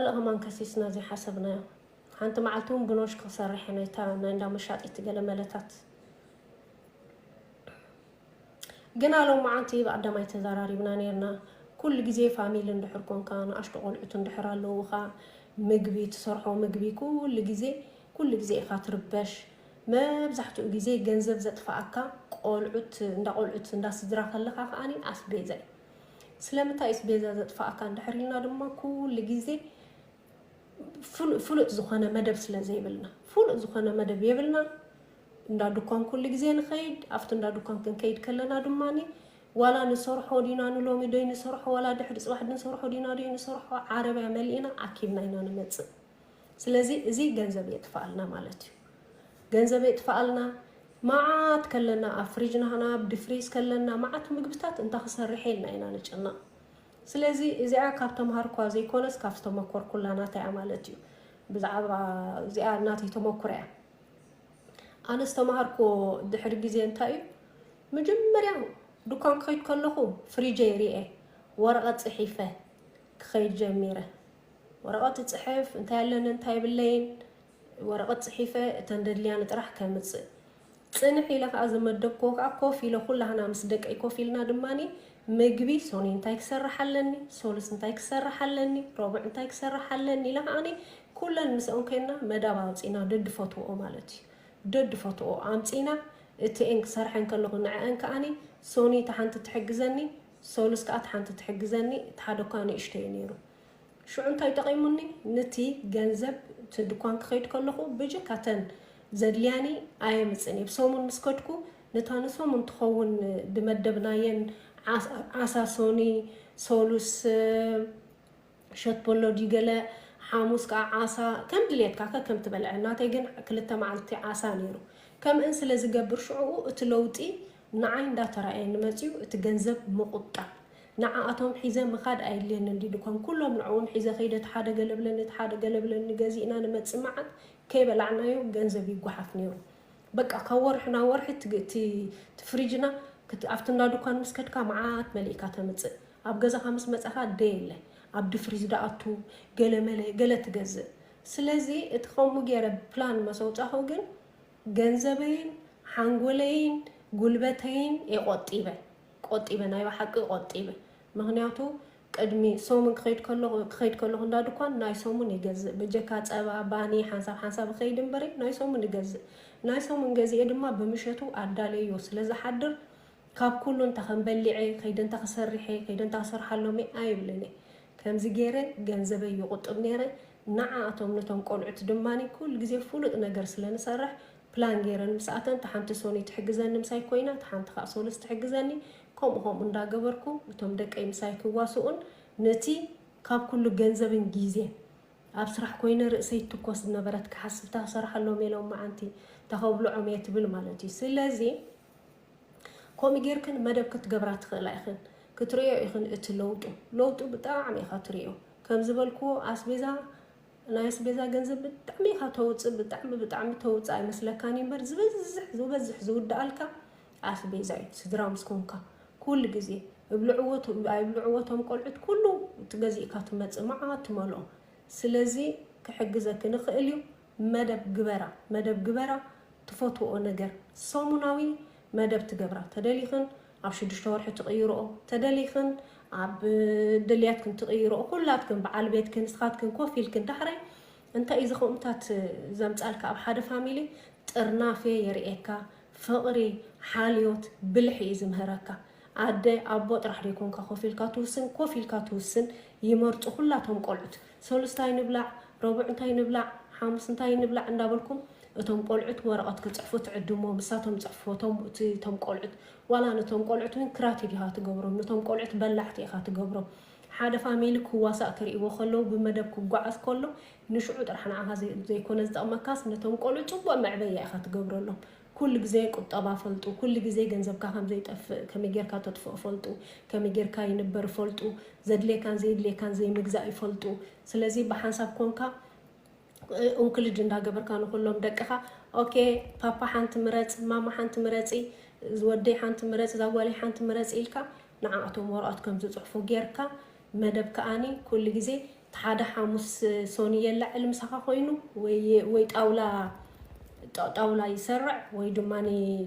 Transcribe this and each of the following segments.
ካልእ ከማን ከሲስና ዘይሓሰብናዮ ሓንቲ መዓልቲ ውን ብኖሽክ ክሰርሕ እየ ናይታ ናይ እንዳ መሻጢት ገለ መለታት ግና ሎማዓንቲ ብኣዳማይ ተዛራሪብና ነርና ኩሉ ግዜ ፋሚሊ እንድሕር ኮንካ ንኣሽቱ ቆልዑት እንድሕር ኣለውኻ ምግቢ ትሰርሖ ምግቢ ኩሉ ግዜ ኩሉ ግዜ ኢኻ ትርበሽ መብዛሕትኡ ግዜ ገንዘብ ዘጥፋኣካ ቆልዑት እንዳ ቆልዑት እንዳ ስድራ ከለኻ ከኣ ኣስቤዛ እዩ ስለምንታይ እዩስ ቤዛ ዘጥፍኣካ እንድሕር ኢልና ድማ ኩሉ ግዜ ፍሉጥ ዝኾነ መደብ ስለ ዘይብልና ፍሉጥ ዝኾነ መደብ የብልና እንዳ ድኳን ኩሉ ግዜ ንኸይድ ኣብቲ እንዳ ድኳን ክንከይድ ከለና ድማ ዋላ ንሰርሖ ዲና ንሎሚ ዶይ ንሰርሖ ዋላ ድሕሪ ፅባሕ ድንሰርሖ ዲና ዶይ ንሰርሖ ዓረብያ መሊእና ኣኪብና ኢና ንመፅእ ስለዚ እዚ ገንዘብ የጥፍኣልና ማለት እዩ። ገንዘብ የጥፍኣልና መዓት ከለና ኣብ ፍሪጅ ናህና ኣብ ድፍሪዝ ከለና መዓት ምግብታት እንታ ክሰርሕ ኢልና ኢና ንጭነቕ። ስለዚ እዚኣ ካብ ተምሃርኳ ዘይኮነስ ካብ ዝተመኮርኩላ ናተይ እያ ማለት እዩ። ብዛዕባ እዚኣ ናተይ ተመኩሮ እያ። ኣነ ዝተምሃርኩዎ ድሕሪ ግዜ እንታይ እዩ መጀመርያ ዱኳን ክኸይድ ከለኹ ፍሪጀይ ርኤ ወረቐት ጽሒፈ ክኸይድ ጀሚረ። ወረቐት እጽሕፍ፣ እንታይ ኣለኒ እንታይ የብለይን፣ ወረቐት ጽሒፈ እተን ደድልያኒ ጥራሕ ከምጽእ ጽንሕ ኢለ ከኣ ዝመደብክዎ ከኣ ኮፍ ኢለ ኩላህና ምስ ደቀይ ኮፍ ኢልና ድማኒ ምግቢ ሶኑይ እንታይ ክሰርሕ ኣለኒ፣ ሶሉስ እንታይ ክሰርሕ ኣለኒ፣ ሮቡዕ እንታይ ክሰርሕ ኣለኒ ኢለ ከኣኒ ኩለን ምስኦም ኮይንና መዳብ ኣውጺእና ደድፈትውኦ ማለት እዩ ደድፈትውኦ ኣምጺእና እቲኤን ክሰርሐን ከለኹ ንዐኣን ከኣኒ ሶኑይ እታ ሓንቲ ትሕግዘኒ ሰሉስ ከኣ እቲ ሓንቲ ትሕግዘኒ እቲ ሓደ እኳ ንእሽቶ እዩ ነይሩ። ሽዑ እንታይ ጠቒሙኒ? ንቲ ገንዘብ እቲ ድኳን ክኸይድ ከለኹ ብጀካ እተን ዘድልያኒ ኣየምጽን እየ። ብሰሙን ምስ ከድኩ ነታ ንሰሙን ትኸውን ድመደብናየን ዓሳ፣ ሶኒ፣ ሰሉስ፣ ሸትቦሎ ድዩ ገለ ሓሙስ ከኣ ዓሳ ከም ድልየትካ ከከም ትበልዐ ናተይ ግን ክልተ መዓልቲ ዓሳ ኔሩ ከምእን ስለ ዝገብር ሽዑኡ እቲ ለውጢ ንዓይ እንዳ ተራእየኒ መጽዩ እቲ ገንዘብ ምቁጣብ ንዓኣቶም ሒዘ ምካድ ኣየድልየንን ድዩ ድኮን ኩሎም ንዕኡም ሒዘ ከይደ እቲ ሓደ ገለ ብለኒ እቲ ሓደ ገለ ብለኒ ገዚእና ንመጽእ መዓት ከይበላዕናዮ ገንዘብ ይጓሓፍ ኔሩ በቃ ካብ ወርሒ ናብ ወርሒ እቲ ፍሪጅና ኣብቲ እንዳ ዱኳን ምስ ከድካ መዓት መሊእካ ተምጽእ ኣብ ገዛኻ ምስ መጻኻ ደየለ ኣብ ድፍሪዝ ድኣቱ ገለ መለ ገለ ትገዝእ ስለዚ እቲ ከምኡ ጌረ ፕላን መሰውጻኹ ግን ገንዘበይን ሓንጎለይን ጉልበተይን እየ ቆጢበ ቆጢበ ናይ ብሓቂ ቆጢበ ምክንያቱ ቅድሚ ሰሙን ክኸይድ ከለኹ ክኸይድ ከለኹ እንዳ ድኳን ናይ ሰሙን ይገዝእ በጀካ ጸባ ባኒ ሓንሳብ ሓንሳብ ክኸይድ እምበሪ ናይ ሰሙን ይገዝእ ናይ ሰሙን ገዚኤ ድማ ብምሸቱ ኣዳለዮ ስለ ዝሓድር ካብ ኩሉ እንታ ከም በሊዐ ከይደ እንታ ክሰሪሐ ከይደ እንታ ክሰርሓሎምየ ኣይብልንየ ከምዚ ገይረ ገንዘበይ ይቁጥብ ነይረ ንዓኣቶም ነቶም ቆልዑት ድማ ኩሉ ግዜ ፉሉጥ ነገር ስለ ንሰርሕ ፕላን ገይረን ምስ ኣተን ታሓንቲ ሶኒ ትሕግዘኒ ምሳይ ኮይና ታሓንቲ ካኣ ሶሉስ ትሕግዘኒ ከምኡ ከምኡ እንዳ ገበርኩ እቶም ደቀይ ምሳይ ክዋሱኡን ነቲ ካብ ኩሉ ገንዘብን ጊዜን ኣብ ስራሕ ኮይነ ርእሰይ ትኮስ ዝነበረት ክሓስብ እንታ ክሰርሓሎምየ ሎማዓንቲ እንታ ከብሎዖምየ ትብል ማለት እዩ ስለዚ ከምኡ ጌርክን መደብ ክትገብራ ትኽእላ ኢኽን ክትርእዮ ኢኽን እቲ ለውጡ ለውጡ ብጣዕሚ ኢኻ ትርእዮ ከም ዝበልክዎ ኣስቤዛ ናይ ኣስቤዛ ገንዘብ ብጣዕሚ ኢኻ ተውፅእ ብጣዕሚ ብጣዕሚ ተውፅእ ኣይመስለካን እምበር ዝበዝሕ ዝበዝሕ ዝውድኣልካ ኣስቤዛ እዩ ስድራ ምስ ኮንካ ኩሉ ግዜ እብልዕዎት ኣይብልዕዎቶም ቆልዑት ኩሉ ትገዚእካ ትመፅእ መዓት ትመልኦ ስለዚ ክሕግዘኪ ንኽእል እዩ መደብ ግበራ መደብ ግበራ ትፈትወኦ ነገር ሰሙናዊ መደብ ትገብራ ተደሊኽን ኣብ ሽዱሽተ ወርሒ ትቕይርኦ ተደሊኽን ኣብ ድልያትክን ትቕይርኦ ኩላትክን በዓል ቤትክን ንስኻትክን ኮፍ ኢልክን ዳሕራይ እንታይ እዩ ዝኸምታት ዘምፃልካ ኣብ ሓደ ፋሚሊ ጥርናፌ የርእየካ ፍቕሪ ሓልዮት ብልሒ እዩ ዝምህረካ ኣደ ኣቦ ጥራሕ ዶ ይኮንካ ኮፍ ኢልካ ትውስን ኮፍ ኢልካ ትውስን ይመርፁ ኩላቶም ቆልዑት ሰሉስ ታይ ንብላዕ፣ ረቡዕ እንታይ ንብላዕ፣ ሓሙስ እንታይ ንብላዕ እንዳበልኩም እቶም ቆልዑት ወረቐት ክፅሕፉ ትዕድምዎም ንሳቶም ፅሕፍዎ እቶም እቲ እቶም ቆልዑት ዋላ ንቶም ቆልዑት እውን ክራቲድ ኢኻ ትገብሮም ንቶም ቆልዑት በላዕቲ ኢኻ ትገብሮም ሓደ ፋሚሊ ክዋሳእ ክርእይዎ ከለዉ ብመደብ ክጓዓዝ ከሎ ንሽዑ ጥራሕ ንዓኻ ዘይኮነ ዝጠቕመካስ ነቶም ቆልዑት ፅቡቕ መዕበያ ኢኻ ትገብረሎም ኩሉ ግዜ ቁጠባ ፈልጡ ኩሉ ግዜ ገንዘብካ ከምዘይጠፍእ ከመይ ጌርካ ተጥፍኦ ፈልጡ ከመይ ጌርካ ይንበር ፈልጡ ዘድልየካን ዘይድልየካን ዘይምግዛእ ይፈልጡ ስለዚ ብሓንሳብ ኮንካ እንክልጅ እንዳገበርካ ንኩሎም ደቅኻ ኦኬ ፓፓ ሓንቲ ምረጽ ማማ ሓንቲ ምረጺ ዝወደይ ሓንቲ ምረጽ ዛጓለይ ሓንቲ ምረጽ ኢልካ ንዓኣቶም ወረቀት ከምዝጽሕፉ ጌርካ መደብ ከኣኒ ኩሉ ግዜ እቲ ሓደ ሓሙስ ሶኒ የላዕል ምሳኻ ኮይኑ ወይ ጣውላ ጣውላ ይሰርዕ ወይ ድማ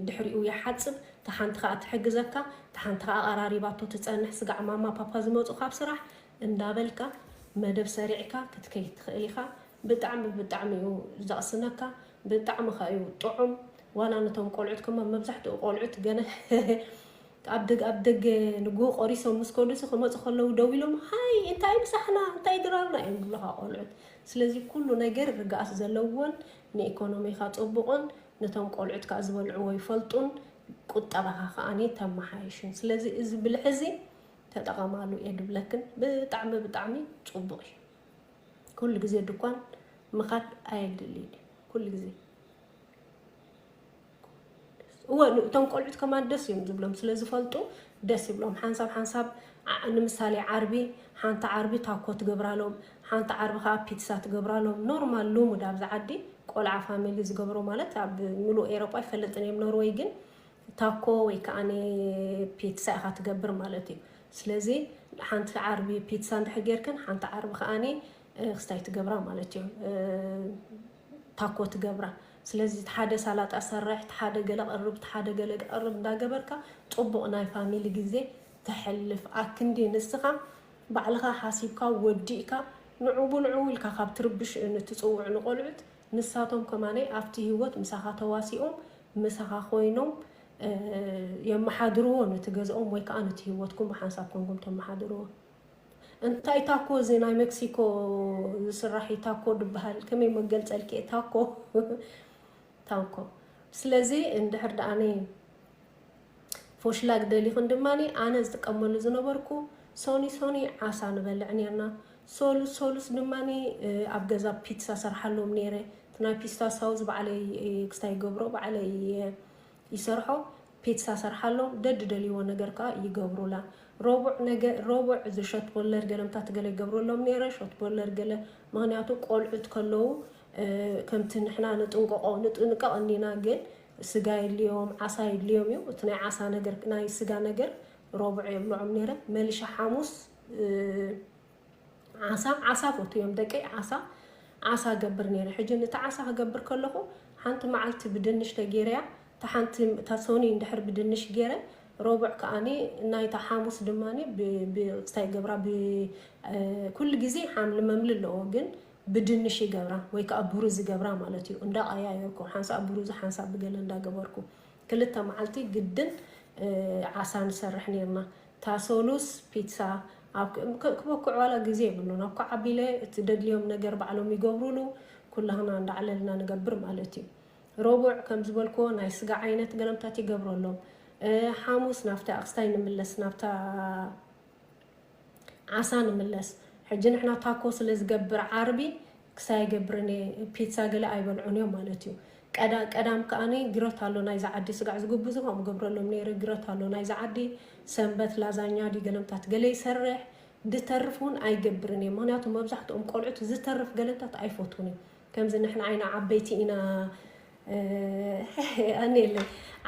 ድሕሪኡ ይሓጽብ እታ ሓንቲ ከኣ ትሕግዘካ እታ ሓንቲ ከኣ ኣቐራሪባቶ ትጸንሕ ስጋዕ ማማ ፓፓ ዝመጹ ካብ ስራሕ እንዳበልካ መደብ ሰሪዕካ ክትከይድ ትኽእል ኢኻ ብጣዕሚ ብጣዕሚ እዩ ዘቕስነካ ብጣዕሚ ከኣ እዩ ጥዑም ዋላ ነቶም ቆልዑት ከማ መብዛሕትኡ ቆልዑት ገለ ኣብ ኣብ ደገ ንግሆ ቆሪሶም ምስ ከዱሲ ክመጹ ከለዉ ደው ኢሎም ሃይ እንታይ ምሳሕና እንታይ ድራርና እዮም ዝብሉኻ ቆልዑት ስለዚ ኩሉ ነገር ርግኣት ዘለዎን ንኤኮኖሚኻ ጹቡቕን ነቶም ቆልዑት ከኣ ዝበልዕዎ ይፈልጡን ቁጠባኻ ከኣ ተማሓይሹን ስለዚ እዚ ብልሒ እዚ ተጠቐማሉ እየ ድብለክን ብጣዕሚ ብጣዕሚ ጹቡቕ እዩ ኩሉ ግዜ ድኳን ምኻድ ኣየድልይን እዩ ኩሉ ግዜ እወ እቶም ቆልዑት ከማን ደስ እዮም ዝብሎም ስለ ዝፈልጡ ደስ ይብሎም ሓንሳብ ሓንሳብ ንምሳሌ ዓርቢ ሓንቲ ዓርቢ ታኮ ትገብራሎም ሓንቲ ዓርቢ ከዓ ፒትሳ ትገብራሎም ኖርማል ልሙድ ኣብዚ ዓዲ ቆልዓ ፋሚሊ ዝገብሮ ማለት ኣብ ምሉእ ኤሮጳ ይፈልጥን እዮም ኖርወይ ግን ታኮ ወይ ከዓ ፒትሳ ኢኻ ትገብር ማለት እዩ ስለዚ ሓንቲ ዓርቢ ፒትሳ እንድሕር ጌርክን ሓንቲ ዓርቢ ከዓኒ ክስታይ ትገብራ ማለት እዩ ታኮ ትገብራ ስለዚ እቲ ሓደ ሳላጣ ሰርሕ እቲ ሓደ ገለ ቅርብ እቲ ሓደ ገለ ቅርብ እንዳገበርካ ጽቡቅ ናይ ፋሚሊ ግዜ ተሕልፍ ኣክንዲ ንስካ ባዕልካ ሓሲብካ ወዲእካ ንዑቡ ንዑቡ ኢልካ ካብ ትርብሽ ን ትጽውዕ ንቆልዑት ንሳቶም ከማነይ ኣብቲ ሂወት ምሳካ ተዋሲኦም ምሳካ ኮይኖም የማሓድርዎ ነቲ ገዝኦም ወይ ከኣ ነቲ ሂወትኩም ብሓንሳብ ኮንኩም ተማሓድርዎ። እንታይ ታኮ እዚ ናይ መክሲኮ ዝስራሕ እዩ ታኮ ድበሃል ከመይ መገልፀልኪ እየ ታኮ ታኮ ስለዚ እንድሕር ደኣኒ ፎሽላግ ደሊኹን ድማ ኣነ ዝጥቀመሉ ዝነበርኩ ሶኒ ሶኒ ዓሳ ንበልዕ ነርና ሶሉስ ሶሉስ ድማ ኣብ ገዛ ፒትሳ ሰርሓሎም ነይረ እቲ ናይ ፒስታ ሳውዝ ባዕለይ ክስታይ ገብሮ ባዕለይ ይሰርሖ ፒትሳ ሰርሓሎም ደድ ደልይዎ ነገር ከኣ ይገብሩላ ሮቡዕ ነገ ሮቡዕ እዚ ሾት ቦለር ገለ ምታት ገለ ይገብረሎም ነይረ ሾት ቦለር ገለ ምክንያቱ ቆልዑት ከለዉ ከምቲ ንሕና ንጥንቆቆ ንጥንቀቅ እኒና ግን ስጋ የድልዮም ዓሳ የድልዮም እዩ እቲ ናይ ዓሳ ነገር ናይ ስጋ ነገር ሮቡዕ የብልዖም ነይረ መልሻ ሓሙስ ዓሳ ዓሳ ፎቱ እዮም ደቀይ ዓሳ ዓሳ ገብር ነይረ ሕጂ ነቲ ዓሳ ክገብር ከለኹ ሓንቲ መዓልቲ ብድንሽ ተጌረያ እታ ሓንቲ እታ ሶኒ እንድሕር ብድንሽ ገይረ ሮብዕ ከዓኒ ናይታ ሓሙስ ድማ ብፅታይ ገብራ ኩሉ ግዜ ሓምሊ መምሊ ኣለዎ ግን ብድንሽ ይገብራ ወይ ከዓ ብሩዝ ይገብራ ማለት እዩ እንዳቀያየርኩ ሓንሳ ብሩዝ ሓንሳ ብገለ እንዳገበርኩ ክልተ መዓልቲ ግድን ዓሳ ንሰርሕ ነርና እታ ሰሉስ ፒትሳ ኣብ ክበኩዕ ዋላ ግዜ የብሉን ኣብ ኩዓቢለ እቲ ደድልዮም ነገር ባዕሎም ይገብሩሉ ኩላህና እንዳ ዓለልና ንገብር ማለት እዩ ሮቡዕ ከም ዝበልክዎ ናይ ስጋ ዓይነት ገለምታት ይገብረሎም ሓሙስ ናብቲ ኣቅስታይ ንምለስ ናብታ ዓሳ ንምለስ ሕጂ ንሕና ታኮ ስለ ዝገብር ዓርቢ ክሳይ ኣይገብርን እየ ፒትሳ ገለ ኣይበልዑን እዮም ማለት እዩ ቀዳ ቀዳም ከኣ ግረት ኣሎ ናይዛ ዓዲ ስጋዕ ዝጉብዙ ከምኡ ገብረሎም ነይረ ግረት ኣሎ ናይዛ ዓዲ ሰንበት ላዛኛ ድዩ ገለምታት ገለ ይሰርሕ ድተርፍ እውን ኣይገብርን እየ ምክንያቱ መብዛሕትኦም ቆልዑት ዝተርፍ ገለምታት ኣይፈትውን እዩ ከምዚ ንሕና ዓይና ዓበይቲ ኢና ኣኔለይ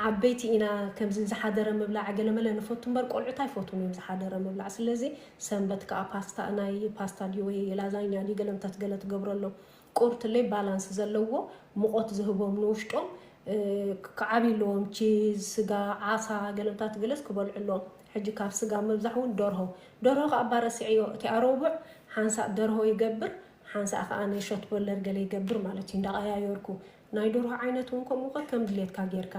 ዓበይቲ ኢና ከምዚ ዝሓደረ ምብላዕ ገለመለ ንፈቱ እምበር ቆልዑት ኣይፈትዉን እዮም ዝሓደረ ምብላዕ ስለዚ ሰንበት ከኣ ፓስታ ናይ ፓስታ ድዩ ወይ ላዛኛ ድዩ ገለ እንተ ገለ ትገብረሎም ቁርትለይ ባላንስ ዘለዎ ሙቆት ዝህቦም ንውሽጦም ክዓብዩ ኣለዎም ቺዝ ስጋ ዓሳ ገለምታት ገለስ ክበልዑ ኣለዎም ሕጂ ካብ ስጋ ምብዛሕ እውን ደርሆ ደርሆ ከኣ ባረስዐዮ እቲ ኣሮቡዕ ሓንሳእ ደርሆ ይገብር ሓንሳእ ከኣ ናይ ሾት ቦለር ገለ ይገብር ማለት እዩ እንዳቀያዮርኩ ናይ ደርሆ ዓይነት ውን ከምኡ ከከም ድሌትካ ጌርካ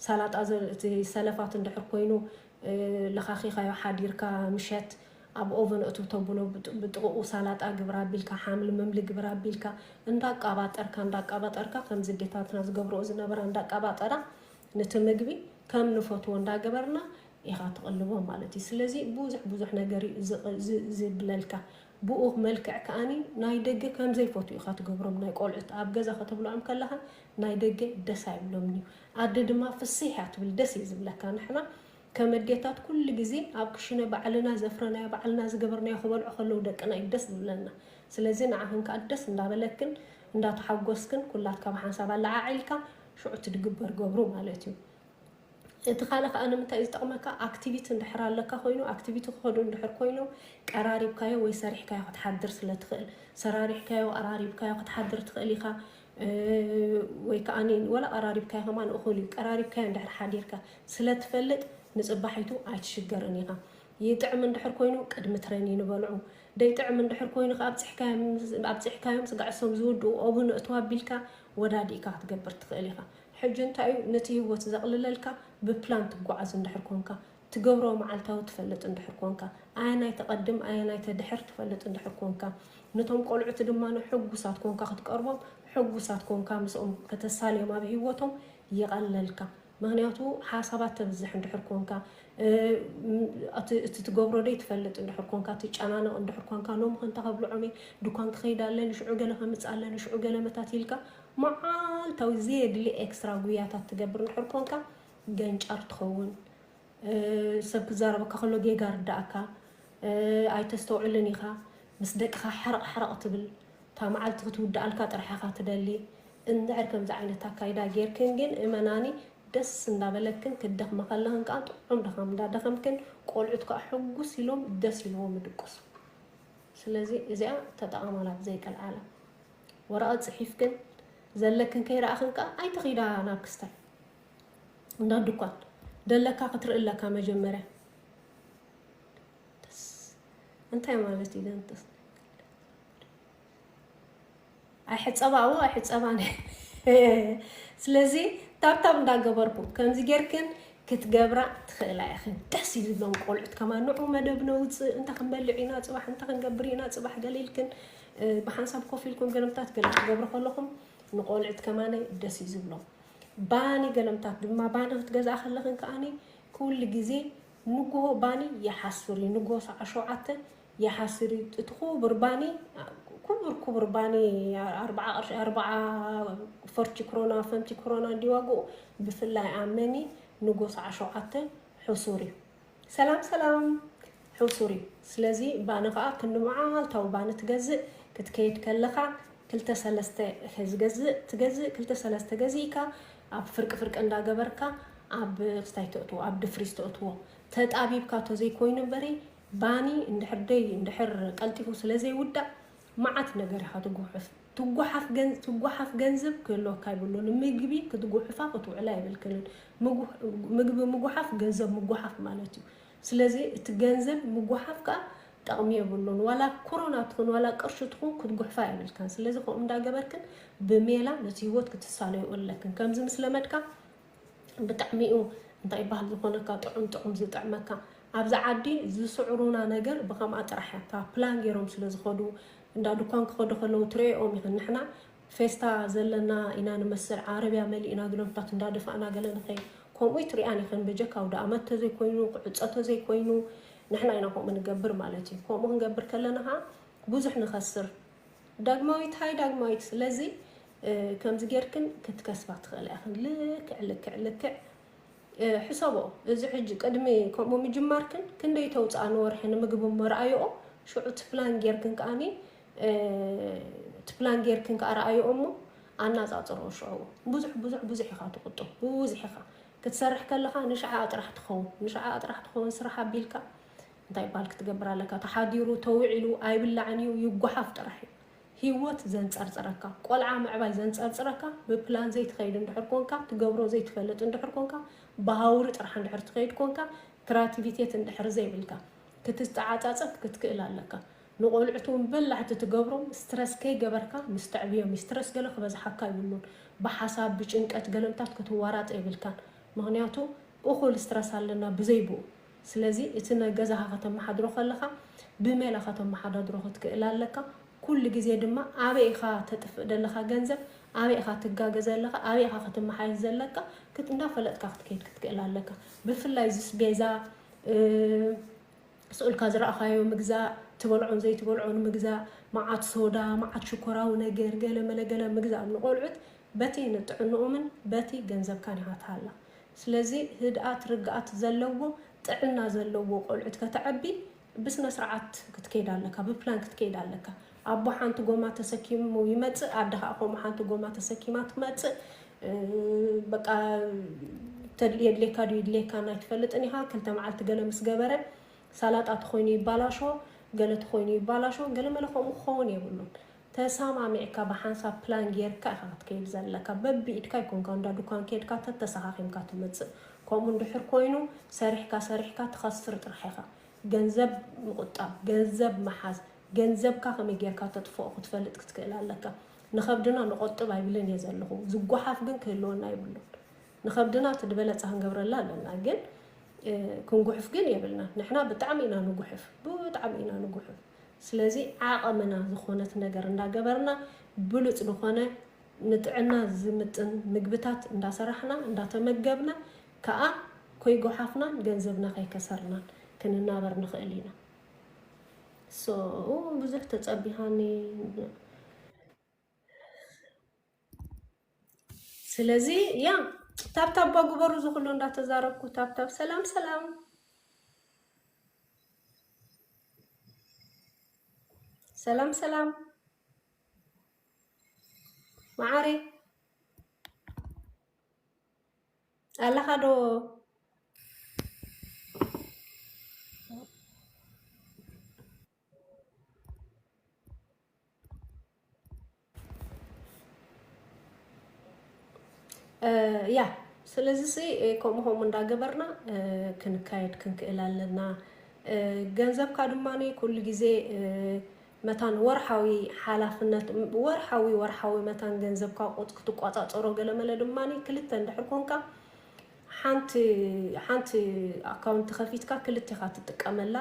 ሳላጣ እቲ ሰለፋት እንድሕር ኮይኑ ለኻኺኻዮ ሓዲርካ ምሸት ኣብ ኦቨን ኣእትው ተብሎ ብጥቕኡ ሳላጣ ግብር ኣቢልካ ሓምሊ ምምሊ ግብር ኣቢልካ እንዳቃባጠርካ እንዳቃባጠርካ ከምዚ ኣዴታትና ዝገብርኦ ዝነበራ እንዳቃባጠራ ንቲ ምግቢ ከም ንፈትዎ እንዳገበርና ኢኻ ትቕልቦ ማለት እዩ ስለዚ ብዙሕ ብዙሕ ነገር እዩ ዝብለልካ ብኡ መልክዕ ከኣኒ ናይ ደገ ከም ዘይፈትዉ ኢኻ ትገብሮም ናይ ቆልዑት ኣብ ገዛ ከተብልዖም ከለኻ ናይ ደገ ደስ ኣይብሎምን እዩ ኣደ ድማ ፍስህ እያ ትብል ደስ እዩ ዝብለካ ንሕና ከም ኣዴታት ኩሉ ግዜ ኣብ ክሽነ ባዕልና ዘፍረናዮ ባዕልና ዝገበርናዮ ክበልዑ ከለዉ ደቅና እዩ ደስ ዝብለና ስለዚ ንዓኽን ከኣ ደስ እንዳበለክን እንዳተሓጎስክን ኩላትካ ብሓንሳብ ኣለዓዒልካ ሽዑ እቲ ድግበር ገብሩ ማለት እዩ እቲ ካልእ ከዓ ንምንታይ እዩ ዝጠቕመካ ኣክቲቪቲ እንድሕር ኣለካ ኮይኑ ኣክቲቪቲ ክኸዱ እንድሕር ኮይኖም ቀራሪብካዮ ወይ ሰሪሕካዮ ክትሓድር ስለ ትኽእል ሰራሪሕካዮ ቀራሪብካዮ ክትሓድር ትኽእል ኢኻ ወይ ከዓ ወላ ቀራሪብካዮ ከማን እኹል እዩ ቀራሪብካዮ እንድሕር ሓዲርካ ስለ ትፈልጥ ንፅባሒቱ ኣይትሽገርን ኢኻ ይጥዕም እንድሕር ኮይኑ ቅድሚ ትሬን ይንበልዑ ደይጥዕም እንድሕር ኮይኑ ከዓ ኣብፅሕካዮም ስጋዕሶም ዝውድኡ ኦብን እቱ ኣቢልካ ወዳዲእካ ክትገብር ትኽእል ኢኻ ሕጂ እንታይ እዩ ነቲ ሂወት ዘቅልለልካ ብፕላን ትጓዓዝ እንድሕር ኮንካ ትገብሮ መዓልታዊ ትፈልጥ እንድሕር ኮንካ ኣየናይ ተቀድም ኣየናይ ተድሕር ትፈልጥ እንድሕር ኮንካ ነቶም ቆልዑት ድማ ሕጉሳት ኮንካ ክትቀርቦም ሕጉሳት ኮንካ ምስኦም ከተሳልዮም ኣብ ሂወቶም ይቀለልካ ምክንያቱ ሓሳባት ተብዝሕ እንድሕር ኮንካ እቲ ትገብሮ ደይ ትፈልጥ እንድሕር ኮንካ ትጨናነቅ እንድሕር ኮንካ ሎሚ ከንታ ከብልዖም እየ ድኳን ክከይድ ኣለኒ ሽዑ ገለ ከምጽእ ኣለኒ ሽዑ ገለ መታቲልካ መዓልታዊ ዘየድሊ ኤክስትራ ጉያታት ትገብር እንድሕር ኮንካ ገንጫር ትኸውን ሰብ ክዛረበካ ከሎ ጌጋ ርዳእካ ኣይተስተውዕልን ኢኻ ምስ ደቅኻ ሓረቕ ሓረቕ ትብል እታ መዓልቲ ክትውድኣልካ ጥራሕ ኢኻ ትደሊ እንድሕር ከምዚ ዓይነት ኣካይዳ ጌርክን ግን እመናኒ ደስ እንዳበለክን ክትደኽማ ከለኽን ከዓ ጥዑም ድኻም እንዳደኸምክን ቆልዑት ከዓ ሕጉስ ኢሎም ደስ ኢልዎም ይድቅሱ ስለዚ እዚኣ ተጠቐማላ ብዘይቀልዓላ ወረቐት ጽሒፍክን ዘለክን ከይረኣኽን ከኣ ኣይትኺዳ ናብ ክስታይ እንዳ ድኳን ደለካ ክትርኢ ኣለካ መጀመርያ እንታይ ማለት እዩ ደንጥስ ኣይሕፀባዎ ኣይሕፀባ ስለዚ ታብታብ እንዳገበርኩ ከምዚ ጌርክን ክትገብራ ትኽእላ ኢኽን ደስ እዩ ዝብሎም ቆልዑት ከማ ንዑ መደብ ነውፅእ እንተ ክንበልዕ ኢና ፅባሕ እንተ ክንገብር ኢና ፅባሕ ገሊልክን ብሓንሳብ ኮፍ ኢልኩም ገለምታት ገለ ክትገብሩ ከለኹም ንቆልዕት ከማነ ደስ እዩ ዝብሎም ባኒ ገለምታት ድማ ባኒ ክትገዝኣ ከለኽን ከዓኒ ኩሉ ግዜ ንጉሆ ባኒ ይሓስር እዩ ንጉሆ ሰዓ ሸውዓተ ይሓስር እዩ እቲ ኩቡር ባኒ ኩቡር ኩቡር ባኒ ኣርባዓ ቅርሺ ኣርባዓ ፈርቺ ክሮና ፈንቲ ክሮና እንዲ ዋግኡ ብፍላይ ኣመኒ ንጉሆ ሰዓ ሸውዓተ ሕሱር እዩ ሰላም ሰላም ሕውሱር እዩ ስለዚ ባኒ ከኣ ክንዲ መዓልታዊ ባኒ ትገዝእ ክትከይድ ከለካ ክልተ ሰለስተ ዝገዝእ ትገዝእ ክልተ ሰለስተ ገዚእካ ኣብ ፍርቂ ፍርቂ እንዳ ገበርካ ኣብ ስታይ ተእትዎ ኣብ ድፍሪስ ተእትዎ ተጣቢብካ ተዘይኮይኑ በሪ ባኒ እንድሕር ደይ እንድሕር ቀልጢፉ ስለ ዘይውዳእ ማዓት ነገር ኢኻ ትጉሕፍ ትጉሓፍ ገንዝብ ክህልወካ የብሉን ንምግቢ ክትጉሕፋ ክትውዕላ የብልክንን ምግቢ ምጉሓፍ ገንዘብ ምጉሓፍ ማለት እዩ ስለዚ እቲ ገንዘብ ምጉሓፍ ከኣ ጠቕሚ የብሉን ዋላ ኮሮና ትኹን ዋላ ቅርሺ ትኹን ክትጉሕፋ የብልክን ስለዚ ከምኡ እንዳገበርክን ብሜላ ነቲ ህይወት ክትሳለዩ ኣለክን ከምዚ ምስ ለመድካ ብጣዕሚ እዩ እንታይ ይባሃል ዝኾነካ ጥዑም ጥዑም ዝጥዕመካ ኣብዚ ዓዲ ዝስዕሩና ነገር ብከምኣ ጥራሕ እያ እታ ፕላን ገይሮም ስለ ዝኸዱ እንዳ ድኳን ክኸዱ ከለዉ ትርእኦም ኢኽን ንሕና ፌስታ ዘለና ኢና ንመስል ዓረብያ መሊእና ግሎብታት እንዳደፋእና ገለ ንኸይ ከምኡ ትሪኣን ኢኽን በጀካ ኣውደኣመት ተዘይኮይኑ ክዕፆ ተዘይኮይኑ ንሕና ኢና ከምኡ ንገብር ማለት እዩ ከምኡ ክንገብር ከለና ከዓ ብዙሕ ንኸስር ዳግማዊት ሃይ ዳግማዊት ስለዚ ከምዚ ጌርክን ክትከስባ ትኽእላ ኢኽን ልክዕ ልክዕ ልክዕ ሕሰቦ እዚ ሕጂ ቅድሚ ከምኡ ምጅማርክን ክንደይ ተውፅኣ ንወርሒ ንምግቢ መርኣይኦ ሽዑ ትፕላን ጌርክን ከዓኒ ትፕላን ጌርክን ከዓ ረኣይኦ እሞ ኣናፃፅሮ ሽዑ ብዙሕ ብዙሕ ብዙሕ ኢኻ ትቁጥብ ብብዙሕ ኢኻ ክትሰርሕ ከለኻ ንሽዓኣ ጥራሕ ትኸውን ንሽዓኣ ጥራሕ ትኸውን ስራሕ ኣቢልካ እንታይ ይበሃል ክትገብር ኣለካ ተሓዲሩ ተውዒሉ ኣይብላዕን እዩ ይጓሓፍ ጥራሕ እዩ ሂወት ዘንጸርጽረካ ቆልዓ ምዕባይ ዘንጸርጽረካ ብፕላን ዘይትኸይድ እንድሕር ኮንካ ትገብሮ ዘይትፈልጥ እንድሕር ኮንካ ብሃውሪ ጥራሕ እንድሕር ትኸይድ ኮንካ ክራቲቪቴት እንድሕር ዘይብልካ ክትተዓጻጸፍ ክትክእል ኣለካ ንቆልዑት እውን በላሕቲ ትገብሮም ስትረስ ከይገበርካ ምስ ተዕብዮም ስትረስ ገለ ክበዝሓካ ይብሉን ብሓሳብ ብጭንቀት ገለምታት ክትዋራጥ የብልካን ምክንያቱ እኹል ስትረስ ኣለና ብዘይብኡ ስለዚ እቲ ናይ ገዛኻ ከተመሓድሮ ከለኻ ብሜላ ከተመሓዳድሮ ክትክእል ኣለካ። ኩሉ ግዜ ድማ ኣበይ ኢኻ ተጥፍእ ዘለኻ ገንዘብ፣ ኣበይ ኢኻ ትጋገ ዘለኻ፣ ኣበይ ኢኻ ክትመሓየሽ ዘለካ ክት እንዳፈለጥካ ክትከይድ ክትክእል ኣለካ። ብፍላይ እዚ ስቤዛ ስእልካ ዝረኣኻዮ ምግዛእ፣ ትበልዖን ዘይትበልዖን ምግዛእ፣ መዓት ሶዳ፣ መዓት ሽኮራዊ ነገር፣ ገለ መለ ገለ ምግዛእ ንቆልዑት በቲ ንጥዕንኡምን በቲ ገንዘብካን ኢኻ ትሃላ። ስለዚ ህድኣት ርግኣት ዘለዎ ጥዕና ዘለዎ ቆልዑት ከተዕቢ ብስነ ስርዓት ክትከይድ ኣለካ ብፕላን ክትከይድ ኣለካ ኣቦ ሓንቲ ጎማ ተሰኪሙ ይመጽእ ኣደ ከኣ ከምኡ ሓንቲ ጎማ ተሰኪማ ትመጽእ በቃ የድልየካ ድዩ ይድልየካን ኣይትፈልጥን ኢኻ ክልተ መዓልቲ ገለ ምስ ገበረ ሳላጣ ተኾይኑ ይባላሾ ገለ ተኾይኑ ይባላሾ ገለ መለ ከምኡ ክኸውን የብሉን ተሳማሚዕካ ብሓንሳብ ፕላን ጌርካ ኢኻ ክትከይድ ዘለካ በቢኢድካ ኣይኮንካ እንዳ ዱካን ኬድካ ተተሳኻኺምካ ትመጽእ ከምኡ እንድሕር ኮይኑ ሰሪሕካ ሰሪሕካ ትኸስር ጥራሕ ኢኻ ገንዘብ ምቁጣብ ገንዘብ ምሓዝ ገንዘብካ ከመይ ጌርካ ተጥፍኦ ክትፈልጥ ክትክእል ኣለካ ንኸብድና ንቆጥብ ኣይብልን እየ ዘለኹ ዝጓሓፍ ግን ክህልወና የብሉን ንኸብድና እቲ ድበለጸ ክንገብረላ ኣለና ግን ክንጉሕፍ ግን የብልና ንሕና ብጣዕሚ ኢና ንጉሕፍ ብጣዕሚ ኢና ንጉሕፍ ስለዚ ዓቐምና ዝኾነት ነገር እንዳገበርና ብሉፅ ልኾነ ንጥዕና ዝምጥን ምግብታት እንዳሰራሕና እንዳተመገብና ከዓ ኮይጎሓፍናን ገንዘብና ከይከሰርናን ክንናበር ንኽእል ኢና። so ብዙሕ ተጸቢሃኒ ስለዚ ያ ታብታብ ባ ግበሩ ዝኩሉ እንዳተዛረብኩ ታብታብ ሰላም ሰላም ሰላም ሰላም መዓሪ ኣለኻ ዶ ያ ስለዚ ከምኡ ከምኡ እንዳገበርና ክንካየድ ክንክእል ኣለና ገንዘብካ ድማ ኩሉ ግዜ መታን ወርሓዊ ሓላፍነት ወርሓዊ ወርሓዊ መታን ገንዘብካ ቁት ክትቆፃፀሮ ገለመለ ድማ ክልተ እንድሕር ኮንካ ሓንቲ ሓንቲ ኣካውንቲ ከፊትካ ክልቴኻ ትጥቀመላ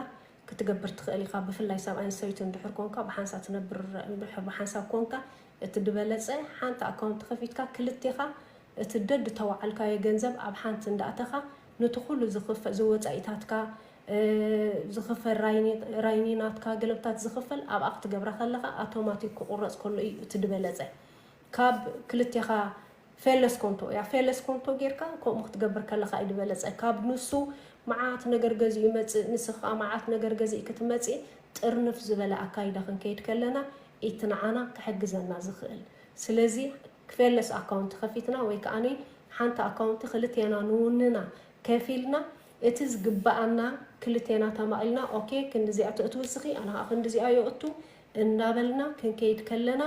ክትገብር ትኽእል ኢኻ፣ ብፍላይ ሰብኣይን ሰበይትን ድሕር ኮንካ ብሓንሳ ትነብር ድሕር ብሓንሳብ ኮንካ እቲ ድበለጸ ሓንቲ ኣካውንት ከፊትካ ክልቴኻ እቲ ደድ ተዋዓልካዮ ገንዘብ ኣብ ሓንቲ እንዳእተኻ ኑቲ ኩሉ ዝኽፈ ዝወጻኢታትካ ዝኽፈል ራይኒ ራይኒ ናትካ ገለብታት ዝኽፈል ኣብኣ ክትገብራ ከለኻ ኣቶማቲክ ክቁረጽ ከሎ እዩ እቲ ድበለጸ ካብ ክልቴኻ ፌለስ ኮንቶ እያ ፌለስ ኮንቶ ጌርካ ከምኡ ክትገብር ከለኻ እዩ ድበለጸ ካብ ንሱ መዓት ነገር ገዚኡ ይመጽእ ንስኺ ከኣ መዓት ነገር ገዚእኪ ትመጺ ጥርንፍ ዝበለ ኣካይዳ ክንከይድ ከለና ኢቲ ንዓና ክሕግዘና ዝኽእል ስለዚ ፌለስ ኣካውንቲ ከፊትና ወይ ከኣ ሓንቲ ኣካውንቲ ክልቴና ንውንና ከፊልና እቲ ዝግበኣና ክልቴና ተማቒልና ኦኬ ክንድዚኣ ተእትዊ እስኺ ኣነ ከኣ ክንድዚኣ የእቱ እንዳበልና ክንከይድ ከለና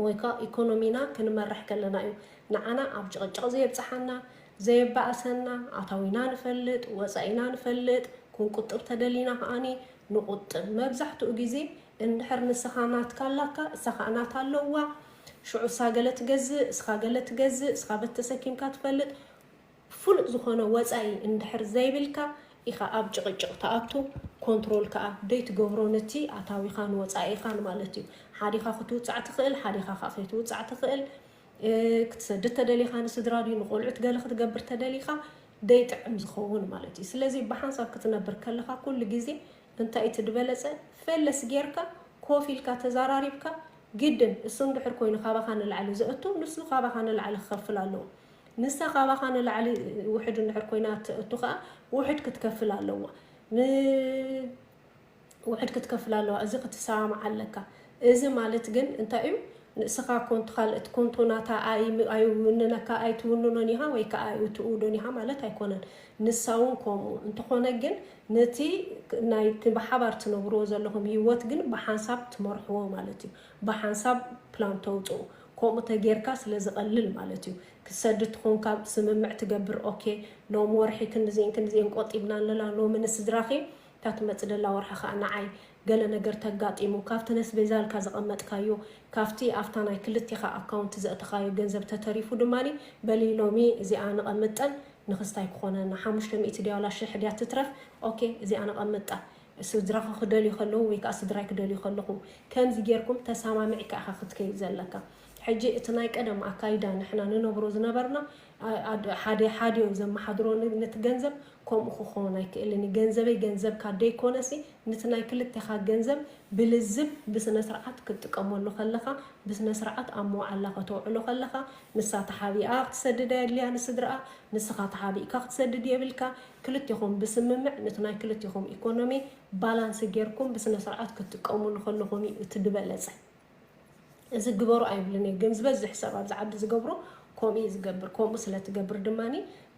ወይ ከኣ ኢኮኖሚና ክንመርሕ ከለና እዩ ንዓና ኣብ ጭቕጭቕ ዘየብጽሓና፣ ዘየባእሰና፣ ኣታዊና ንፈልጥ፣ ወጻኢና ንፈልጥ፣ ክንቁጥብ ተደሊና ከኣኒ ንቑጥብ፣ መብዛሕትኡ ግዜ እንድሕር ንስኻ ናትካ ኣላካ እሳ ከኣ ናታ ኣለዋ ሽዑ እሳ ገለ ትገዝእ እስኻ ገለ ትገዝእ እስኻ በት ተሰኪምካ ትፈልጥ፣ ፍሉጥ ዝኾነ ወጻኢ እንድሕር ዘይብልካ ኢኻ ኣብ ጭቕጭቕ ትኣቱ ኮንትሮል ከኣ ደይትገብሮ ንቲ ኣታዊኻን ወጻኢኻን ማለት እዩ ሓዲኻ ክትውጻዕ ትኽእል ሓዲኻ ከኣ ከይትውጻዕ ትኽእል ክትሰድድ ተደሊኻ ንስድራ ድዩ ንቆልዑት ገለ ክትገብር ተደሊኻ ደይጥዕም ዝኸውን ማለት እዩ ስለዚ ብሓንሳብ ክትነብር ከለኻ ኩሉ ግዜ እንታይ እቲ ድበለጸ ፈለስ ጌርካ ኮፍ ኢልካ ተዛራሪብካ ግድን እሱ እንድሕር ኮይኑ ካባኻ ንላዕሊ ዘእቱ ንሱ ካባኻ ንላዕሊ ክኸፍል ኣለዎ ንሳ ካባኻ ንላዕሊ ውሕድ እንድሕር ኮይና እትእቱ ከኣ ውሕድ ክትከፍል ኣለዋ ን ውሕድ ክትከፍል ኣለዋ እዚ ክትሰማማዕ ኣለካ እዚ ማለት ግን እንታይ እዩ ንእስኻ ኮንቱ ካልእት ኮንቱ ናታ ኣይ ኣይውንነካ ኣይትውንኖን ኢኻ ወይ ከኣ ኣይእትውዶን ኢኻ ማለት ኣይኮነን ንሳ እውን ከምኡ እንተኾነ ግን ነቲ ናይ ብሓባር ትነብርዎ ዘለኹም ሂወት ግን ብሓንሳብ ትመርሕዎ ማለት እዩ ብሓንሳብ ፕላን ተውጽኡ ኮምኡ ተጌርካ ስለ ዝቀልል ማለት እዩ ክትሰድድ ትኮንካ ስምምዕ ትገብር ኦኬ ሎም ወርሒ ክንድዜን ክንድዜን ቆጢብና ኣለና ሎሚ ንስድራኪ እታ ትመጽ ደላ ወርሒ ከኣ ንዓይ ገለ ነገር ተጋጢሙ ካብቲ ነስቤዛልካ ዘቀመጥካዮ ካብቲ ኣብታ ናይ ክልቴካ ኣካውንት ዘእተካዮ ገንዘብ ተተሪፉ ድማ በሊ ሎሚ እዚኣ ንቀምጠን ንክስታይ ክኮነና ሓሙሽተ ሚእቲ ድያ ዋላ ሽሕ ድያ ትትረፍ ኦኬ እዚኣ ነቀምጣ ስድራኻ ክደልዩ ከለዉ ወይ ከኣ ስድራይ ክደልዩ ከለኹ ከምዚ ጌርኩም ተሳማሚዕካ ኢኻ ክትከይድ ዘለካ ሕጂ እቲ ናይ ቀደም ኣካይዳ ንሕና ንነብሮ ዝነበርና ሓደ ሓዲኦም ዘመሓድሮ ነቲ ገንዘብ ከምኡ ክኾን ኣይክእልን እዩ ገንዘበይ ገንዘብካ ደይኮነሲ ንቲ ናይ ክልቴኻ ገንዘብ ብልዝብ ብስነስርዓት ክትጥቀመሉ ከለኻ ብስነስርዓት ኣብ መውዓላ ከተውዕሎ ከለኻ ንሳ ተሓቢኣ ክትሰድድ ኣየድልያ ንስድርኣ ንስኻ ተሓቢእካ ክትሰድድ የብልካ ክልቴኹም ብስምምዕ ንቲ ናይ ክልቴኹም ኢኮኖሚ ባላንስ ጌርኩም ብስነስርዓት ክትጥቀሙሉ ከለኹም እዩ እቲ ድበለፀ። እዚ ግበሩ ኣይብልን እየ ግን ዝበዝሕ ሰብ ኣብዚ ዓዲ ዝገብሮ ከምኡ እዩ ዝገብር ከምኡ ስለትገብር ድማ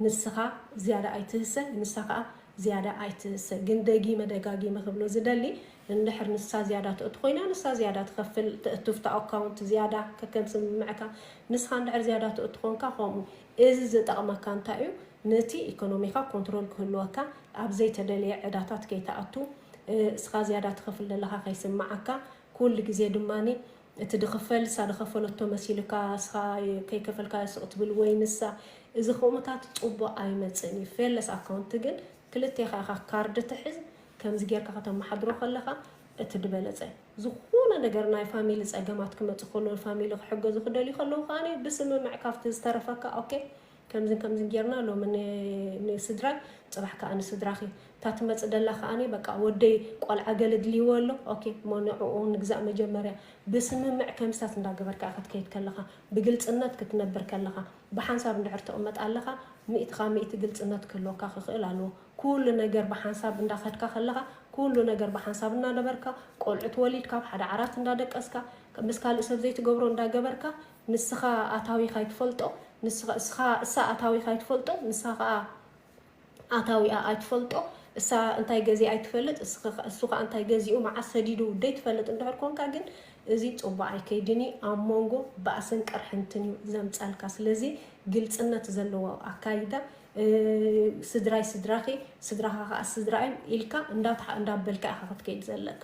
ንስኻ ዝያዳ ኣይትህሰ ንሳ ከዓ ዝያዳ ኣይትህሰ ግን ደጊመ ደጋጊመ ክብሎ ዝደሊ እንድሕር ንሳ ዝያዳ ትእቱ ኮይና ንሳ ዝያዳ ትኸፍል ትእትፍታ ኣካውንት ዝያዳ ከከም ስምምዕካ ንስኻ እንድሕር ዝያዳ ትእቱ ኮንካ ከምኡ እዚ ዝጠቕመካ እንታይ እዩ ነቲ ኢኮኖሚኻ ኮንትሮል ክህልወካ፣ ኣብ ዘይተደልየ ዕዳታት ከይትኣቱ፣ እስኻ ዝያዳ ትኸፍል ዘለኻ ከይስምዓካ፣ ኩሉ ግዜ ድማ እቲ ድኽፈል እሳ ድኸፈለቶ መሲልካ እስኻ ከይከፈልካዮ ስቕ ትብል ወይ ንሳ፣ እዚ ክምታት ጽቡቕ ኣይመጽእን እዩ። ፌለስ ኣካውንት ግን ክልቴኻ ኢኻ ካርድ ትሕዝ፣ ከምዚ ጌርካ ከተመሓድሮ ከለኻ እቲ ድበለጸ። ዝኾነ ነገር ናይ ፋሚሊ ጸገማት ክመጽእ ከሎ ፋሚሊ ክሕገዙ ክደልዩ ከለዉ ከኣ ብስምምዕ ካብቲ ዝተረፈካ ኦኬ ከምዝን ከምዝን ጌርና ሎሚ ንስድራይ ጽባሕ ክኣ ንስድራኺ እታ ትመጽእ ደላ ክኣ በቃ ወደይ ቆልዓ ገለ ድልይዎ ኣሎ ኦኬ እሞ ንዕኡ ንግዛእ መጀመርያ ብስምምዕ ከምስታት እንዳገበርካ ኢኻ ትከይድ ከለኻ ብግልጽነት ክትነብር ከለኻ ብሓንሳብ እንድሕር ትቅመጥ ኣለኻ ሚእትኻ ሚእቲ ግልጽነት ክህልወካ ክኽእል ኣለዎ ኩሉ ነገር ብሓንሳብ እንዳኸድካ ከለኻ ኩሉ ነገር ብሓንሳብ እናነበርካ ቆልዑት ወሊድካ ኣብ ሓደ ዓራት እንዳደቀስካ ምስ ካልእ ሰብ ዘይትገብሮ እንዳገበርካ ንስኻ ኣታዊኻ ኣይትፈልጦ ንስኻ እስኻ እሳ ኣታዊኻ ኣይትፈልጦ ንሳ ኸኣ ኣታዊኣ ኣይትፈልጦ እሳ እንታይ ገዚኣ ኣይትፈልጥ እስኽ እሱ ኸኣ እንታይ ገዚኡ መዓስ ሰዲዱ ደይትፈልጥ እንድሕር ኮንካ ግን እዚ ጽቡቕ ኣይከይድን እዩ ኣብ ሞንጎ ባእስን ቅርሕንትን እዩ ዘምጻልካ ስለዚ ግልጽነት ዘለዎ ኣካይዳ ስድራይ ስድራኺ ስድራኻ ኸኣ ስድራይ ኢልካ እንዳትሓ እንዳበልካ ኢኻ ክትከይድ ዘለካ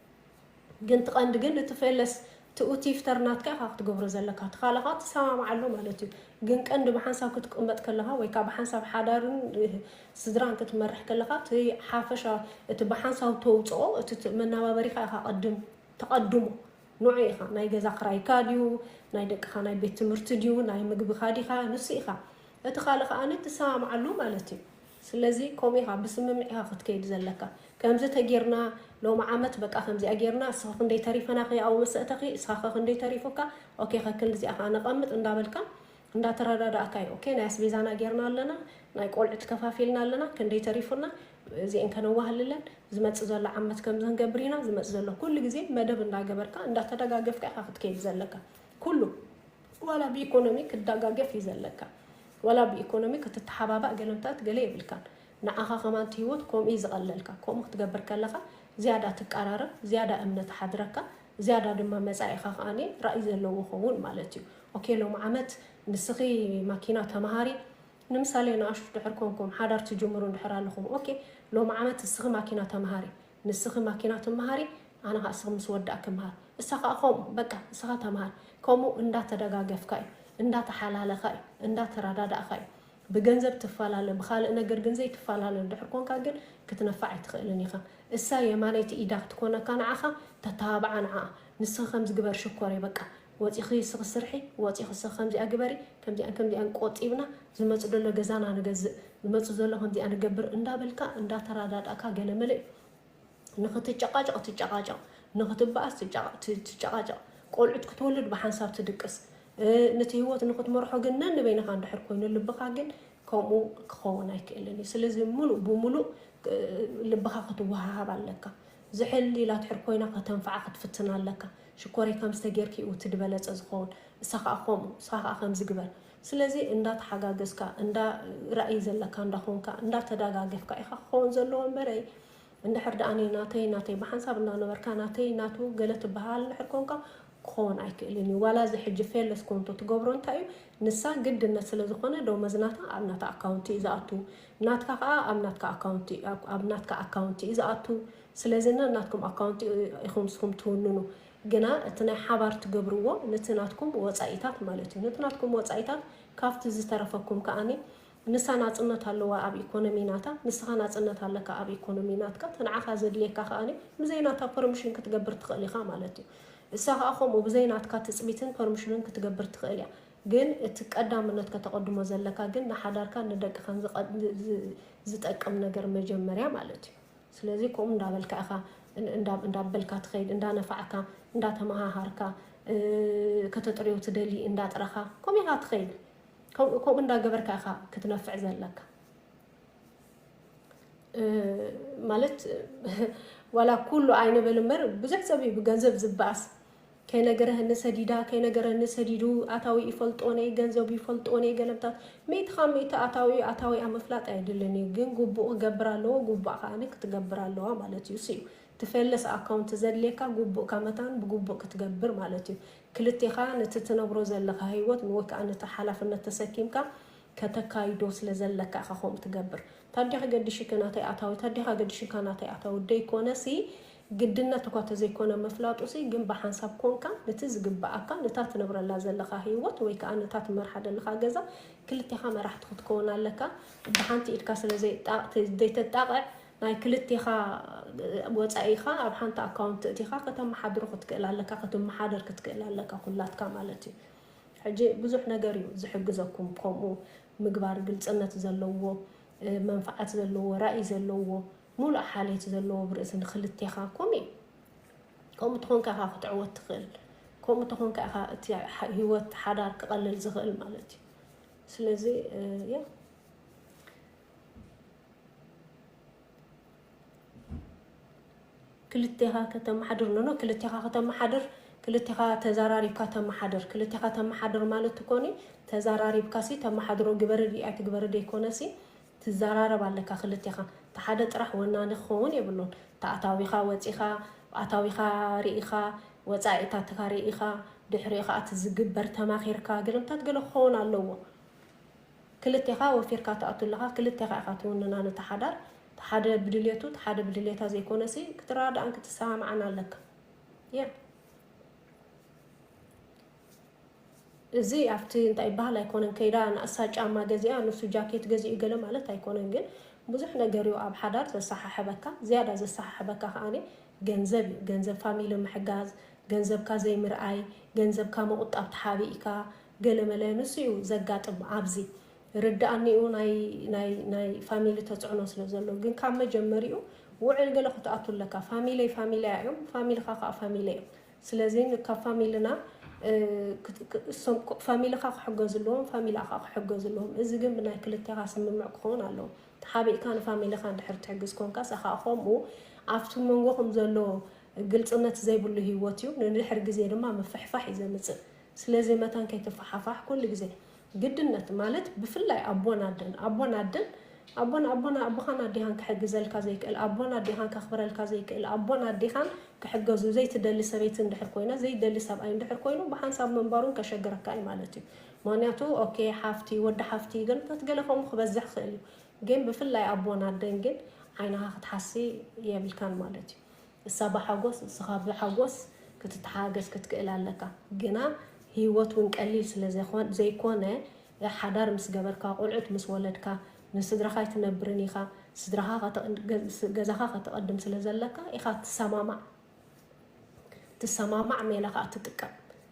ግን ትቀንዲ ግን እቲ ፌለስ ትኡ ቲፍተር ናትካ ኢካ ክትገብሮ ዘለካ ትካልካ ትሰማማዕ ኣሎ ማለት እዩ ግን ቀንዲ ብሓንሳብ ክትቅመጥ ከለካ ወይ ካኣ ብሓንሳብ ሓዳርን ስድራን ክትመርሕ ከለካ እቲ ሓፈሻ እቲ ብሓንሳብ ተውጽኦ እቲ መናባበሪካ ኢካ ቀድም ተቀድሞ ንዑ ኢካ ናይ ገዛ ክራይካ ድዩ ናይ ደቅካ ናይ ቤት ትምህርቲ ድዩ ናይ ምግብካ ዲካ ንሱ ኢካ እቲ ካልእ ካኣ ትሰማማዕ ኣሎ ማለት እዩ ስለዚ ከምኡ ኢኻ ብስምምዕ ኢኻ ክትከይድ ዘለካ ከምዚ ተጌርና ሎሚ ዓመት በቃ ከምዚኣ ጌርና እስኺ ክንደይ ተሪፈናኺ ኣብኡ መሰእተኺ እስኻኸ ክንደይ ተሪፉካ ኦኬ ከክንድዚኣ ከኣ ነቐምጥ እንዳበልካ እንዳተረዳዳእካ እዩ ኦኬ ናይ ኣስቤዛና ጌርና ኣለና ናይ ቆልዑት ከፋፊልና ኣለና ክንደይ ተሪፉና እዚኤን ከነዋህልለን ዝመጽእ ዘሎ ዓመት ከምዚ ክንገብር ኢና ዝመጽእ ዘሎ ኩሉ ግዜ መደብ እንዳገበርካ እንዳተደጋገፍካ ኢኻ ክትከይድ ዘለካ ኩሉ ዋላ ብኢኮኖሚ ክዳጋገፍ እዩ ዘለካ ዋላ ብኢኮኖሚ ክትታሓባባእ ገለ ምታት ገለ የብልካን ንዓኻ ከማን እቲ ሂወት ኮምኡ እዩ ዝቀለልካ ኮምኡ ክትገብር ከለኻ ዝያዳ ትቃራረብ ዝያዳ እምነት ይሓድረካ ዝያዳ ድማ መጻኢኻ ከኣ ራኢ ዘለዎ ይኸውን ማለት እዩ ኦኬ ሎሚ ዓመት ንስኺ ማኪና ተማሃሪ ንምሳሌ ንኣሽቱ ድሕር ኮንኩም ሓዳር ትጅምሩ እንድሕር ኣለኹም ኦኬ ሎሚ ዓመት ንስኺ ማኪና ተማሃሪ ንስኺ ማኪና ትመሃሪ ኣነ ከኣ እስኺ ምስ ወዳእ ክመሃር እሳ ከኣ ከምኡ በቃ ንስኻ ተመሃር ከምኡ እንዳተደጋገፍካ እዩ እንዳተሓላለኻ እዩ እንዳተረዳዳእኻ እዩ ብገንዘብ ትፈላለ ብኻልእ ነገር ግን ዘይትፈላለ እንድሕር ኮንካ ግን ክትነፍዕ ኣይትኽእልን ኢኻ እሳ የማነይቲ ኢዳ ክትኮነካ ንዓኻ ተተባብዓ ንዓኣ ንስኺ ከምዚ ግበሪ ሽኮረይ በቃ ወጺኺ ስኺ ስርሒ ወጺኺ ስኺ ከምዚኣ ግበሪ ከምዚኣን ከምዚኣን ቆጢብና ዝመጽእ ደሎ ገዛና ንገዝእ ዝመጽእ ዘሎ ከምዚኣ ንገብር እንዳበልካ እንዳተራዳዳእካ ገለ መለ ንኽትጨቓጨቕ ትጨቓጨቕ ንኽትበኣስ ትጨቓጨቕ ቆልዑት ክትወልድ ብሓንሳብ ትድቅስ ንቲ ህይወት ንኽትመርሖ ግን ነንበይንኻ እንድሕር ኮይኑ ልብኻ ግን ከምኡ ክኸውን ኣይክእልን እዩ ስለዚ ሙሉእ ብሙሉእ ልብኻ ክትወሃሃብ ኣለካ ዝሕል ኢላ ትሕር ኮይና ከተንፍዓ ክትፍትና ኣለካ ሽኮረይ ከምስተ ጌርኪ እዩ እቲ ድበለጸ ዝኮውን እሳ ካኣ ከምኡ እስካ ካኣ ከምዚ ግበር ስለዚ እንዳ ተሓጋገዝካ እንዳ ራኢ ዘለካ እንዳ ኮንካ እንዳ ተዳጋገፍካ ኢካ ክከውን ዘለዎ እምበረይ እንድሕር ዳኣ እኔ ናተይ ናተይ ብሓንሳብ እንዳ ነበርካ ናተይ ናቱ ገለ ትባሃሃል እንድሕር ኮንካ ክኮውን ኣይክእልን እዩ ዋላ እዚ ሕጂ ፌለስ ኮንቶ ትገብሮ እንታይ እዩ ንሳ ግድነት ስለ ዝኮነ ደሞዝ ናታ ኣብ ናታ ኣካውንቲ እዩ ዝኣቱ ናትካ ካኣ ኣብ ናትካ ኣካውንቲ ኣብ ናትካ ኣካውንቲ እዩ ዝኣቱ ስለዚ ነናትኩም ኣካውንት ኢኹም ንስኹም ትውንኑ ግና እቲ ናይ ሓባር ትገብርዎ ነቲ ናትኩም ወጻኢታት ማለት እዩ ነቲ ናትኩም ወጻኢታት ካብቲ ዝተረፈኩም ከኣኒ ንሳ ናጽነት ኣለዋ ኣብ ኢኮኖሚ ናታ ንስኻ ናጽነት ኣለካ ኣብ ኢኮኖሚ ናትካ እቲ ንዓኻ ዘድልየካ ከኣኒ ብዘይ ናታ ፐርሚሽን ክትገብር ትኽእል ኢኻ ማለት እዩ እሳ ከኣ ከምኡ ብዘይ ናትካ ትጽቢትን ፐርሚሽንን ክትገብር ትኽእል እያ ግን እቲ ቀዳምነት ከተቐድሞ ዘለካ ግን ንሓዳርካን ንደቅኻን ዝጠቅም ነገር መጀመርያ ማለት እዩ ስለዚ ከምኡ እንዳበልካ ኢኻ እንዳበልካ ትኸይድ እንዳነፋዕካ እንዳተመሃሃርካ ከተጥርዮ ትደሊ እንዳጥረኻ ከምኡ ኢኻ ትኸይድ ከምኡ እንዳገበርካ ኢኻ ክትነፍዕ ዘለካ ማለት ዋላ ኩሉ ኣይንበል እምበር ብዙሕ ሰብ እዩ ብገንዘብ ዝበኣስ ከይነገረህኒ ሰዲዳ ከይነገረኒ ሰዲዱ ኣታዊ ይፈልጦ ነይ ገንዘቡ ይፈልጦ ነይ ገለምታት ሚእቲ ካብ ሚእቲ ኣታዊኡ ኣታዊኣ ምፍላጥ ኣይድልን እዩ ግን ጉቡእ ክገብር ኣለዎ ጉቡኣ ከኣ ክትገብር ኣለዋ ማለት እዩ እሱዩ ትፌለስ ኣካውንት ዘድልየካ ጉቡእካ መታን ብጉቡእ ክትገብር ማለት እዩ ክልቴኻ ነቲ ትነብሮ ዘለኻ ሂወት ንወይ ከኣ ነቲ ሓላፍነት ተሰኪምካ ከተካይዶ ስለ ዘለካ ኢኻ ከምኡ ትገብር ታዲያ ከገዲሽኪ ናተይ ኣታዊ ታዲያ ከገዲሽካ ናተይ ኣታዊ ደይኮነሲ ግድነት እኳ ተዘይኮነ ምፍላጡሲ ግን ብሓንሳብ ኮንካ ነቲ ዝግበኣካ ነታ ትነብረላ ዘለኻ ሂወት ወይ ከኣ ነታ ትመርሓ ደለኻ ገዛ ክልቴኻ መራሕቲ ክትከውን ኣለካ ብሓንቲ ኢድካ ስለዘይተጣቕዕ ናይ ክልቴኻ ወጻኢኻ ኣብ ሓንቲ ኣካውንት እእቲኻ ከተመሓድሮ ክትክእል ኣለካ ክትመሓደር ክትክእል ኣለካ ኩላትካ ማለት እዩ ሕጂ ብዙሕ ነገር እዩ ዝሕግዘኩም ከምኡ ምግባር ግልጽነት ዘለዎ መንፍዓት ዘለዎ ራእይ ዘለዎ ሙሉእ ሓልዮት ዘለዎ ብርእሲ ንክልቴኻ ኮምኡ እዩ ከምኡ ተኾንካ ኢኻ ክትዕወት ትኽእል ከምኡ ተኾንካ ኢኻ እቲ ሂወት ሓዳር ክቐልል ዝኽእል ማለት እዩ ስለዚ ያ ክልቴኻ ከተመሓድር ኖኖ ክልቴኻ ከተመሓድር ክልቴኻ ተዘራሪብካ ተመሓድር ክልቴኻ ተመሓድር ማለት ኮኒ ተዘራሪብካ ሲ ተመሓድሮ ግበሪ ሪኣት ግበሪ ዘይኮነ ሲ ትዛራረብ ኣለካ ክልቴኻ እቲ ሓደ ጥራሕ ወናኒ ክኸውን የብሉን እቲ ኣታዊኻ ወጺኻ ኣታዊኻ ሪኢኻ ወጻኢታትካ ሪኢኻ ድሕሪኡ ከኣ እቲ ዝግበር ተማኺርካ ገለምታት ገለ ክኸውን ኣለዎ ክልቴኻ ወፊርካ ትኣቱ ኣለኻ ክልቴኻ ኢኻ ትውንና ነቲ ሓዳር እቲ ሓደ ብድሌቱ እቲ ሓደ ብድሌታ ዘይኮነሲ ክትረዳዳኣን ክትሰማማዓን ኣለካ ያ እዚ ኣብቲ እንታይ ይበሃል ኣይኮነን ከይዳ ንኣሳ ጫማ ገዚኣ ንሱ ጃኬት ገዚኡ ገለ ማለት ኣይኮነን ግን ብዙሕ ነገር እዩ ኣብ ሓዳር ዘሰሓሕበካ ዝያዳ ዘሰሓሕበካ ከኣ ገንዘብ እዩ ገንዘብ ፋሚሊ ምሕጋዝ ገንዘብካ ዘይምርኣይ ገንዘብካ ምቑጣብ ተሓቢእካ ገለመለ ንሱ እዩ ዘጋጥም ኣብዚ ርድኣኒኡ ናይ ናይ ናይ ፋሚሊ ተጽዕኖ ስለ ዘሎ ግን ካብ መጀመሪኡ ውዕል ገለ ክትኣቱ ኣለካ ፋሚለይ ፋሚለያ እዮም ፋሚልኻ ከኣ ፋሚለይ እዮም ስለዚ ካብ ፋሚልና ፋሚልኻ ክሕገዙ ኣለዎም ፋሚላኻ ክሕገዙ ኣለዎም እዚ ግን ብናይ ክልቴኻ ስምምዕ ክኸውን ኣለዎ ተሓቢእካ ንፋሚልኻ እንድሕር ትሕግዝ ኮንካ ሰኻ ከምኡ ኣብቲ መንጎኹም ዘሎ ግልፅነት ዘይብሉ ህይወት እዩ ንድሕር ግዜ ድማ ምፍሕፋሕ እዩ ዘምፅእ ስለዚ መታን ከይትፈሓፋሕ ኩሉ ግዜ ግድነት ማለት ብፍላይ ኣቦን ኣደን ኣቦን ኣደን ኣቦን ኣቦን ኣቦኻን ኣዴኻን ክሕግዘልካ ዘይክእል ኣቦን ኣዴኻን ከኽብረልካ ዘይክእል ኣቦን ኣዴኻን ክሕገዙ ዘይትደሊ ሰበይቲ እንድሕር ኮይና ዘይደሊ ሰብኣይ እንድሕር ኮይኑ ብሓንሳብ ምንባሩን ከሸግረካ እዩ ማለት እዩ ምክንያቱ ኦኬ ሓፍቲ ወዲ ሓፍቲ ግን በት ገለ ከምኡ ክበዝሕ ክእል እዩ ግን ብፍላይ ኣቦን ኣደን ግን ዓይንኻ ክትሓሲ የብልካን ማለት እዩ እሳ ብሓጎስ እስኻ ብሓጎስ ክትተሓጋገዝ ክትክእል ኣለካ ግና ሂወት ውን ቀሊል ስለ ዘይኮነ ሓዳር ምስ ገበርካ ቆልዑት ምስ ወለድካ ንስድራኻ ኣይትነብርን ኢኻ ስድራኻ ገዛኻ ከተቀድም ስለ ዘለካ ኢኻ ትሰማማዕ ትሰማማዕ ሜላ ከኣ ትጥቀም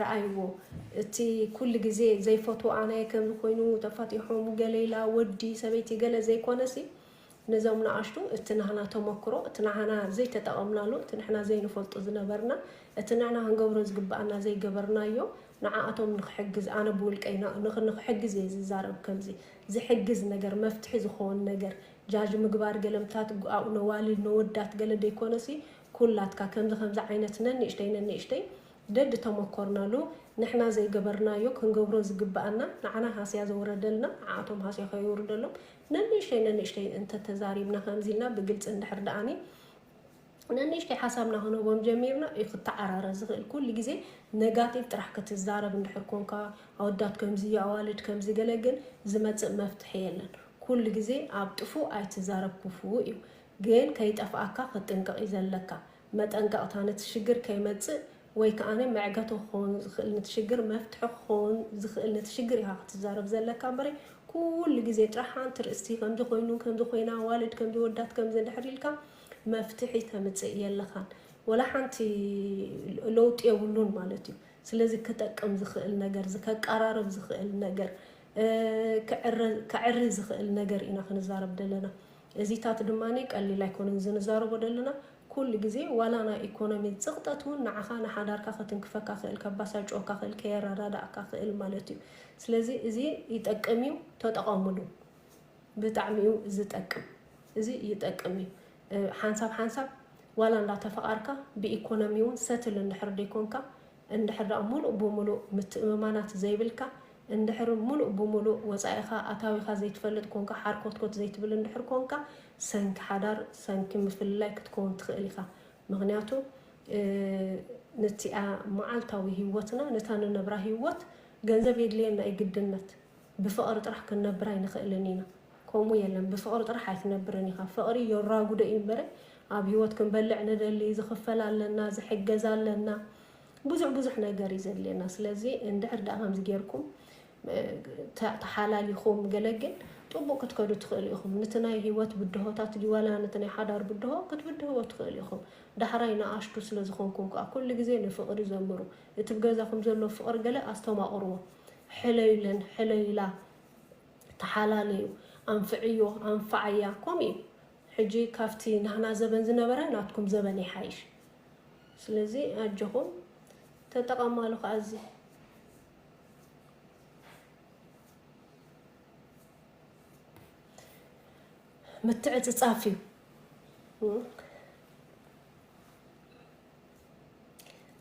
ራኣይዎ እቲ ኩሉ ግዜ ዘይፈትዎ ኣናየ ከምዚ ኮይኑ ተፋቲሖም ገለ ኢላ ወዲ ሰበይቲ ገለ ዘይኮነሲ ነዞም ናኣሽቱ እቲ ናህና ተመክሮ እቲ ናዓና ዘይተጠቐምናሉ እቲ ንሕና ዘይንፈልጦ ዝነበርና እቲ ንሕና ክንገብሮ ዝግባኣና ዘይገበርናዮ ንዓኣቶም ንኽሕግዝ ኣነ ብውልቀይ ንኽሕግዝ እየ ዝዛረብ ከምዚ ዝሕግዝ ነገር መፍትሒ ዝኾን ነገር ጃጅ ምግባር ገለ ምታት ኣኡ ነዋልድ ነወዳት ገለ ደይኮነሲ ኩላትካ ከምዚ ከምዚ ዓይነት ነንእሽተይ ነንእሽተይ ደድ ተመኮርናሉ ንሕና ዘይገበርናዮ ክንገብሮ ዝግበኣና ንዓና ሃስያ ዘውረደልና ንዓኣቶም ሃስያ ከየውርደሎም ነንእሽተይ ነንእሽተይ እንተተዛሪብና ከምዚ ኢልና ብግልጺ እንድሕር ደኣኒ ነንእሽተይ ሓሳብና ክንህቦም ጀሚርና እዩ ክተዓራረ ዝኽእል ኩሉ ግዜ ነጋቲቭ ጥራሕ ክትዛረብ እንድሕር ኮንካ ኣወዳት ከምዚ እዩ ኣዋልድ ከምዚ ገለ ግን ዝመጽእ መፍትሒ የለን ኩሉ ግዜ ኣብ ጥፉእ ኣይትዛረብ ኩፉእ እዩ ግን ከይጠፍኣካ ክትጥንቀቕ እዩ ዘለካ። መጠንቀቕታ ነቲ ሽግር ከይመጽእ ወይ ከኣ መዕገቶ ክኸውን ዝኽእል ነቲ ሽግር መፍትሒ ክኸውን ዝኽእል ነቲ ሽግር ኢኻ ክትዛረብ ዘለካ እምበረይ ኩሉ ግዜ ጥራሕ ሓንቲ ርእስቲ ከምዚ ኮይኑ ከምዚ ኮይና ኣዋልድ ከምዚ ወዳት ከምዚ እንድሕር ኢልካ መፍትሒ ተምጽእ የለኻን ወላ ሓንቲ ለውጢ የብሉን ማለት እዩ። ስለዚ ክጠቅም ዝኽእል ነገር ዝከቀራርብ ዝኽእል ነገር ከዕሪ ዝኽእል ነገር ኢና ክንዛረብ ዘለና። እዚታት ድማ ቀሊል ኣይኮነን እዚ ንዛረቦ ደለና ኩሉ ግዜ ዋላ ናይ ኢኮኖሚ ጽቅጠት ውን ንዓካ ንሓዳርካ ከትንክፈካ ክእል ከባሳጭወካ ክእል ከየረዳዳኣካ ክእል ማለት እዩ ስለዚ እዚ ይጠቅም እዩ ተጠቀምሉ ብጣዕሚ እዩ ዝጠቅም እዚ ይጠቅም እዩ ሓንሳብ ሓንሳብ ዋላ እንዳተፈቃርካ ብኢኮኖሚ ውን ሰትል እንድሕር ደይኮንካ እንድሕር ድኣ ሙሉእ ብሙሉእ ምትእምማናት ዘይብልካ፣ እንድሕር ሙሉእ ብሙሉእ ወጻኢኻ ኣታዊኻ ዘይትፈልጥ ኮንካ፣ ሓርኮትኮት ዘይትብል እንድሕር ኮንካ፣ ሰንኪ ሓዳር ሰንኪ ምፍልላይ ክትከውን ትኽእል ኢኻ። ምኽንያቱ ንቲኣ መዓልታዊ ሂወትና ነታ ንነብራ ሂወት ገንዘብ የድልየና እዩ ግድነት። ብፍቕሪ ጥራሕ ክንነብር ኣይንኽእልን ኢና። ከምኡ የለን ብፍቅሪ ጥራሕ ኣይትነብርን ኢካ ፍቅሪ የራጉዶ እዩ እምበረ ኣብ ሂወት ክንበልዕ ንደሊ ዝክፈል ኣለና ዝሕገዝ ኣለና ብዙሕ ብዙሕ ነገር እዩ ዘድልየና ስለዚ እንድሕር ዳኣ ከምዚ ጌርኩም ተሓላሊኩም ገለ ግን ጥቡቅ ክትከዱ ትክእሉ ኢኩም ንቲ ናይ ሂወት ብድሆታት ድዩ ዋላ ንቲ ናይ ሓዳር ብድሆ ክትብድህዎ ትክእሉ ኢኩም ዳሕራይ ንኣሽቱ ስለ ዝኮንኩም ከኣ ኩሉ ግዜ ንፍቅሪ ዘምሩ እቲ ብገዛኩም ዘሎ ፍቅሪ ገለ ኣስተማቅርዎ ሕለዩለን ሕለዩላ ተሓላለዩ ኣንፍዕዮ ኣንፍዓያ ከምኡ እዩ ሕጂ ካብቲ ናህና ዘበን ዝነበረ ናትኩም ዘበን ይሓይሽ ስለዚ ኣጆኹም ተጠቐማሉ ከኣ እዚ ምትዕጽጻፍ እዩ።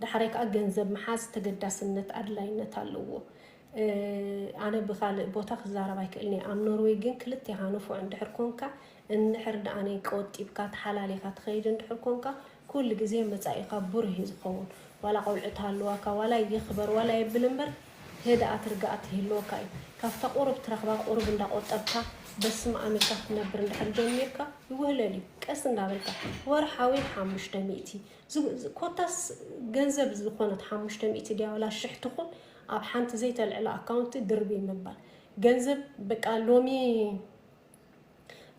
ዳሕራይ ከዓ ገንዘብ ምሓዝ ተገዳስነት ኣድላይነት ኣለዎ። ኣነ ብካልእ ቦታ ክዛረብ ኣይክእልን እየ ኣብ ኖርወይ ግን ክልቴኻ ንፉዕ እንድሕር ኮንካ እንድሕር ደኣኒ ቆጢብካ ተሓላሊኻ ትኸይድ እንድሕር ኮንካ ኩሉ ግዜ መፃኢኻ ብሩህ እዩ ዝኸውን ዋላ ቆልዑት ሃልዋካ ዋላ ይኽበር ዋላ የብል እምበር ህድኣት ርግኣት ይህልወካ እዩ ካብታ ቁሩብ ትረኽባ ቁሩብ እንዳቆጠብካ በስምኣም ኢልካ ክትነብር እንድሕር ጀሚርካ ይውህለል እዩ ቀስ እንዳበልካ ወርሓዊ ሓሙሽተ ሚእቲ ኮታስ ገንዘብ ዝኾነት ሓሙሽተ ሚእቲ ድያ ወላ ሽሕ ትኹን ኣብ ሓንቲ ዘይተልዕለ ኣካውንቲ ድርብይ ምባል ገንዘብ በቃ ሎሚ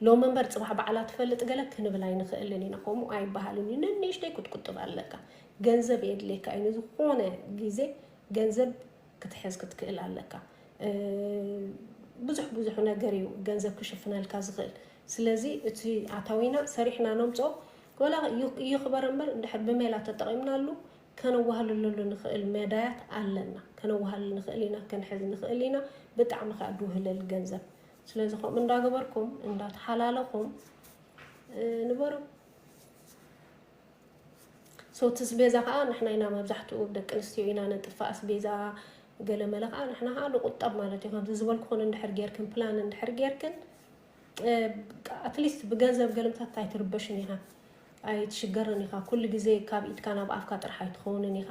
ሎሚ እምበር ጽባሕ ባዕላ ትፈልጥ ገለ ክንብል ኣይንኽእልን ኢና ከምኡ ኣይበሃልን እዩ ነንእሽተይ ክትቁጥብ ኣለካ ገንዘብ የድልየካ እዩ ንዝኾነ ግዜ ገንዘብ ክትሕዝ ክትክእል ኣለካ ብዙሕ ብዙሕ ነገር እዩ ገንዘብ ክሽፍነልካ ዝኽእል ስለዚ እቲ ኣታዊና ሰሪሕና ነምፆ ወላ ይኽበር እምበር እንድሕር ብሜላ ተጠቒምናሉ ከነዋህልለሉ ንኽእል መዳያት ኣለና ከነዋህልል ንኽእል ኢና ክንሕዝ ንኽእል ኢና ብጣዕሚ ከዓ ድውህልል ገንዘብ ስለዚ ከምኡ እንዳገበርኩም እንዳተሓላለኹም ንበሩ ሰው ትስቤዛ ከዓ ንሕና ኢና መብዛሕትኡ ደቂ ኣንስትዮ ኢና ነጥፋእ ስቤዛ ገለመለ ከዓ ንሕና ከዓ ንቁጠብ ማለት እዩ ከምዚ ዝበልኩኹን እንድሕር ጌርክን ፕላን እንድሕር ጌርክን ኣትሊስት ብገንዘብ ገለምታት ኣይትርበሽን ኢኻ ኣይትሽገርን ኢኻ ኩሉ ግዜ ካብ ኢድካ ናብ ኣፍካ ጥራሕ ኣይትኸውንን ኢኻ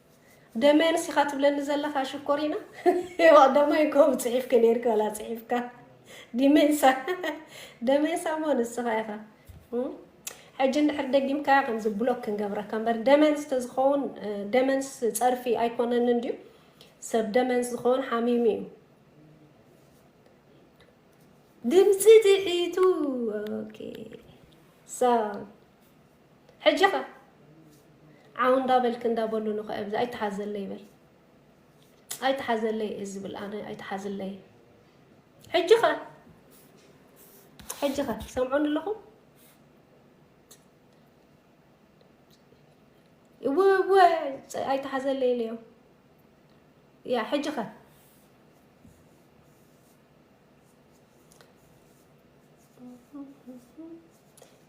ደመያንስ ኢኻ ትብለኒ ዘለኻ ሽኮሪና ዋቅዳማይ ኮም ጽሒፍኪ ነርኪ ዋላ ጽሒፍካ ዲሜንሳ ደሜንሳ እሞ ንስኻ ኢኻ ሕጂ እንድሕር ደጊምካያ ከምዚ ብሎክ ክንገብረካ እምበር ደመንስ ተዝኸውን ደመንስ ፀርፊ ኣይኮነን እንድዩ ሰብ ደመንስ ዝኸውን ሓሚሙ እዩ ድምፂ ትሒቱ ኦኬ ሕጂ ከ ዓው እንዳ በልኪ እንዳ በሉ ንከኦም እዚ ኣይትሓዘለይ በል ኣይትሓዘለይ እየ ዝብል ኣነ ኣይትሓዝለይ ሕጂ ከ ሕጂ ከ ሰምዑን ኣለኹም እወ ኣይትሓዘለይ ኢለዮም ያ ሕጂ ከ